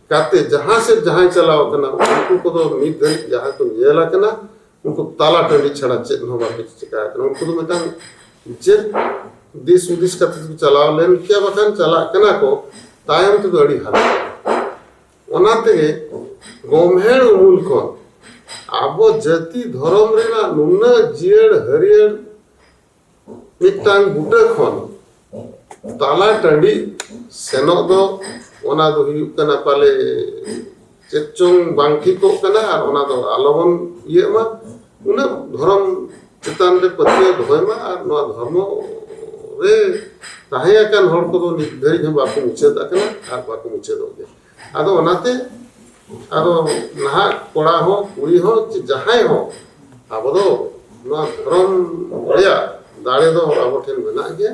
ᱠᱟᱛᱮ ᱡᱟᱦᱟᱸ ᱥᱮᱫ ᱡᱟᱦᱟᱸᱭ ᱪᱟᱞᱟᱣ ᱟᱠᱟᱱᱟ ᱩᱱᱠᱩ ᱠᱚᱫᱚ ᱢᱤᱫ ᱫᱷᱟᱹᱨᱤᱡ ᱡᱟᱦᱟᱸ ᱠᱚ ᱧᱮᱞ ᱟᱠᱟᱱᱟ ᱩᱱᱠᱩ ᱛᱟᱞᱟ ᱴᱟᱺᱰᱤ ᱪᱷᱟᱲᱟ ᱪᱮᱫ ᱦᱚᱸ ᱵᱟᱠᱚ ᱪᱤᱠᱟ ᱟᱠᱟᱱᱟ ᱩᱱᱠᱩ ᱫᱚ ᱢᱤᱫᱴᱟᱝ ᱪᱮᱫ ᱫᱤᱥ ᱦᱩᱫᱤᱥ ᱠᱟᱛᱮ ᱠᱚ ᱪᱟᱞᱟᱣ ᱞᱮᱱ ᱠᱮᱭᱟ ᱵᱟᱠᱷᱟᱱ ᱪᱟᱞᱟᱜ ᱠᱟᱱᱟ ᱠᱚ ᱛᱟᱭᱚᱢ ᱛᱮᱫᱚ ᱟᱹᱰᱤ ᱦᱟᱞᱚᱛ ᱚᱱᱟ ᱛᱮᱜᱮ ᱜᱚᱢᱦᱮᱲ ᱩᱢᱩᱞ ᱠᱷᱚᱱ ᱟᱵᱚ ᱡᱟᱹᱛᱤ ᱫᱷᱚᱨᱚᱢ ᱨᱮᱱᱟᱜ ᱱᱩᱱᱟᱹᱜ ᱡᱤᱭᱟᱹᱲ ᱦᱟᱹᱨᱭᱟᱹᱲ ᱢᱤᱫᱴᱟᱝ ᱵᱩᱴᱟᱹ ᱠᱷᱚᱱ ᱛᱟᱞᱟ ᱴᱟᱺᱰᱤ ᱥᱮᱱᱚᱜ ᱫᱚ ᱚᱱᱟ ᱫᱚ ᱦᱩᱭᱩᱜ ᱠᱟᱱᱟ ᱯᱟᱞᱮ ᱪᱮᱫ ᱪᱚᱝ ᱵᱟᱝ ᱴᱷᱤᱠᱚᱜ ᱠᱟᱱᱟ ᱟᱨ ᱚᱱᱟ ᱫᱚ ᱟᱞᱚ ᱵᱚᱱ ᱤᱭᱟᱹᱜ ᱢᱟ ᱩᱱᱟᱹᱜ ᱫᱷᱚᱨᱚᱢ ᱪᱮᱛᱟᱱ ᱨᱮ ᱯᱟᱹᱛᱭᱟᱹᱣ ᱫᱚᱦᱚᱭ ᱢᱟ ᱟᱨ ᱱᱚᱣᱟ ᱫᱷᱚᱨᱢᱚ ᱨᱮ ᱛᱟᱦᱮᱸ ᱟᱠᱟᱱ ᱦᱚᱲ ᱠᱚᱫᱚ ᱱᱤᱛ ᱫᱷᱟᱹᱨᱤᱡ ᱦᱚᱸ ᱵᱟᱠᱚ ᱢᱩᱪᱟᱹᱫ ᱟᱠᱟᱱᱟ ᱟᱨ ᱵᱟᱠᱚ ᱢᱩᱪᱟᱹᱫᱚᱜ ᱜᱮᱭᱟ ᱟᱫᱚ ᱚᱱᱟᱛᱮ ᱟᱫᱚ ᱱᱟᱦᱟᱜ ᱠᱚᱲᱟ ᱦᱚᱸ ᱠᱩᱲᱤ ᱦᱚᱸ ᱪᱮ ᱡᱟᱦᱟᱸᱭ ᱦᱚᱸ ᱟᱵᱚ ᱫᱚ ᱱᱚᱣᱟ ᱫᱷᱚᱨᱚᱢ ᱨᱮᱭᱟᱜ ᱫᱟᱲᱮ ᱫᱚ ᱟᱵᱚ ᱴᱷᱮᱱ ᱢᱮᱱᱟᱜ ᱜᱮᱭᱟ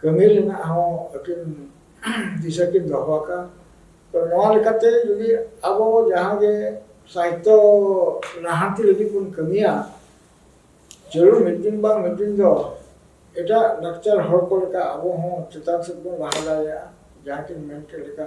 ᱠᱟᱹᱢᱤ ᱨᱮᱱᱟᱜ ᱦᱚᱸ ᱟᱹᱠᱤᱱ ᱫᱤᱥᱟᱹ ᱠᱤᱱ ᱫᱚᱦᱚ ᱟᱠᱟᱫ ᱛᱚ ᱱᱚᱣᱟ ᱞᱮᱠᱟᱛᱮ ᱡᱩᱫᱤ ᱟᱵᱚ ᱡᱟᱦᱟᱸ ᱜᱮ ᱥᱟᱦᱤᱛᱛᱚ ᱞᱟᱦᱟᱱᱛᱤ ᱞᱟᱹᱜᱤᱫ ᱵᱚᱱ ᱠᱟᱹᱢᱤᱭᱟ ᱡᱟᱹᱨᱩᱲ ᱢᱤᱫ ᱫᱤᱱ ᱵᱟᱝ ᱢᱤᱫ ᱫᱤᱱ ᱫᱚ ᱮᱴᱟᱜ ᱞᱟᱠᱪᱟᱨ ᱦᱚᱲ ᱠᱚ ᱞᱮᱠᱟ ᱟᱵᱚ ᱦᱚᱸ ᱪᱮᱛᱟᱱ ᱥᱮᱫ ᱵᱚᱱ ᱞᱟᱦᱟ ᱫᱟᱲᱮᱭᱟᱜᱼᱟ ᱡᱟᱦᱟᱸ ᱠᱤᱱ ᱢᱮᱱ ᱠᱮᱫ ᱞᱮᱠᱟ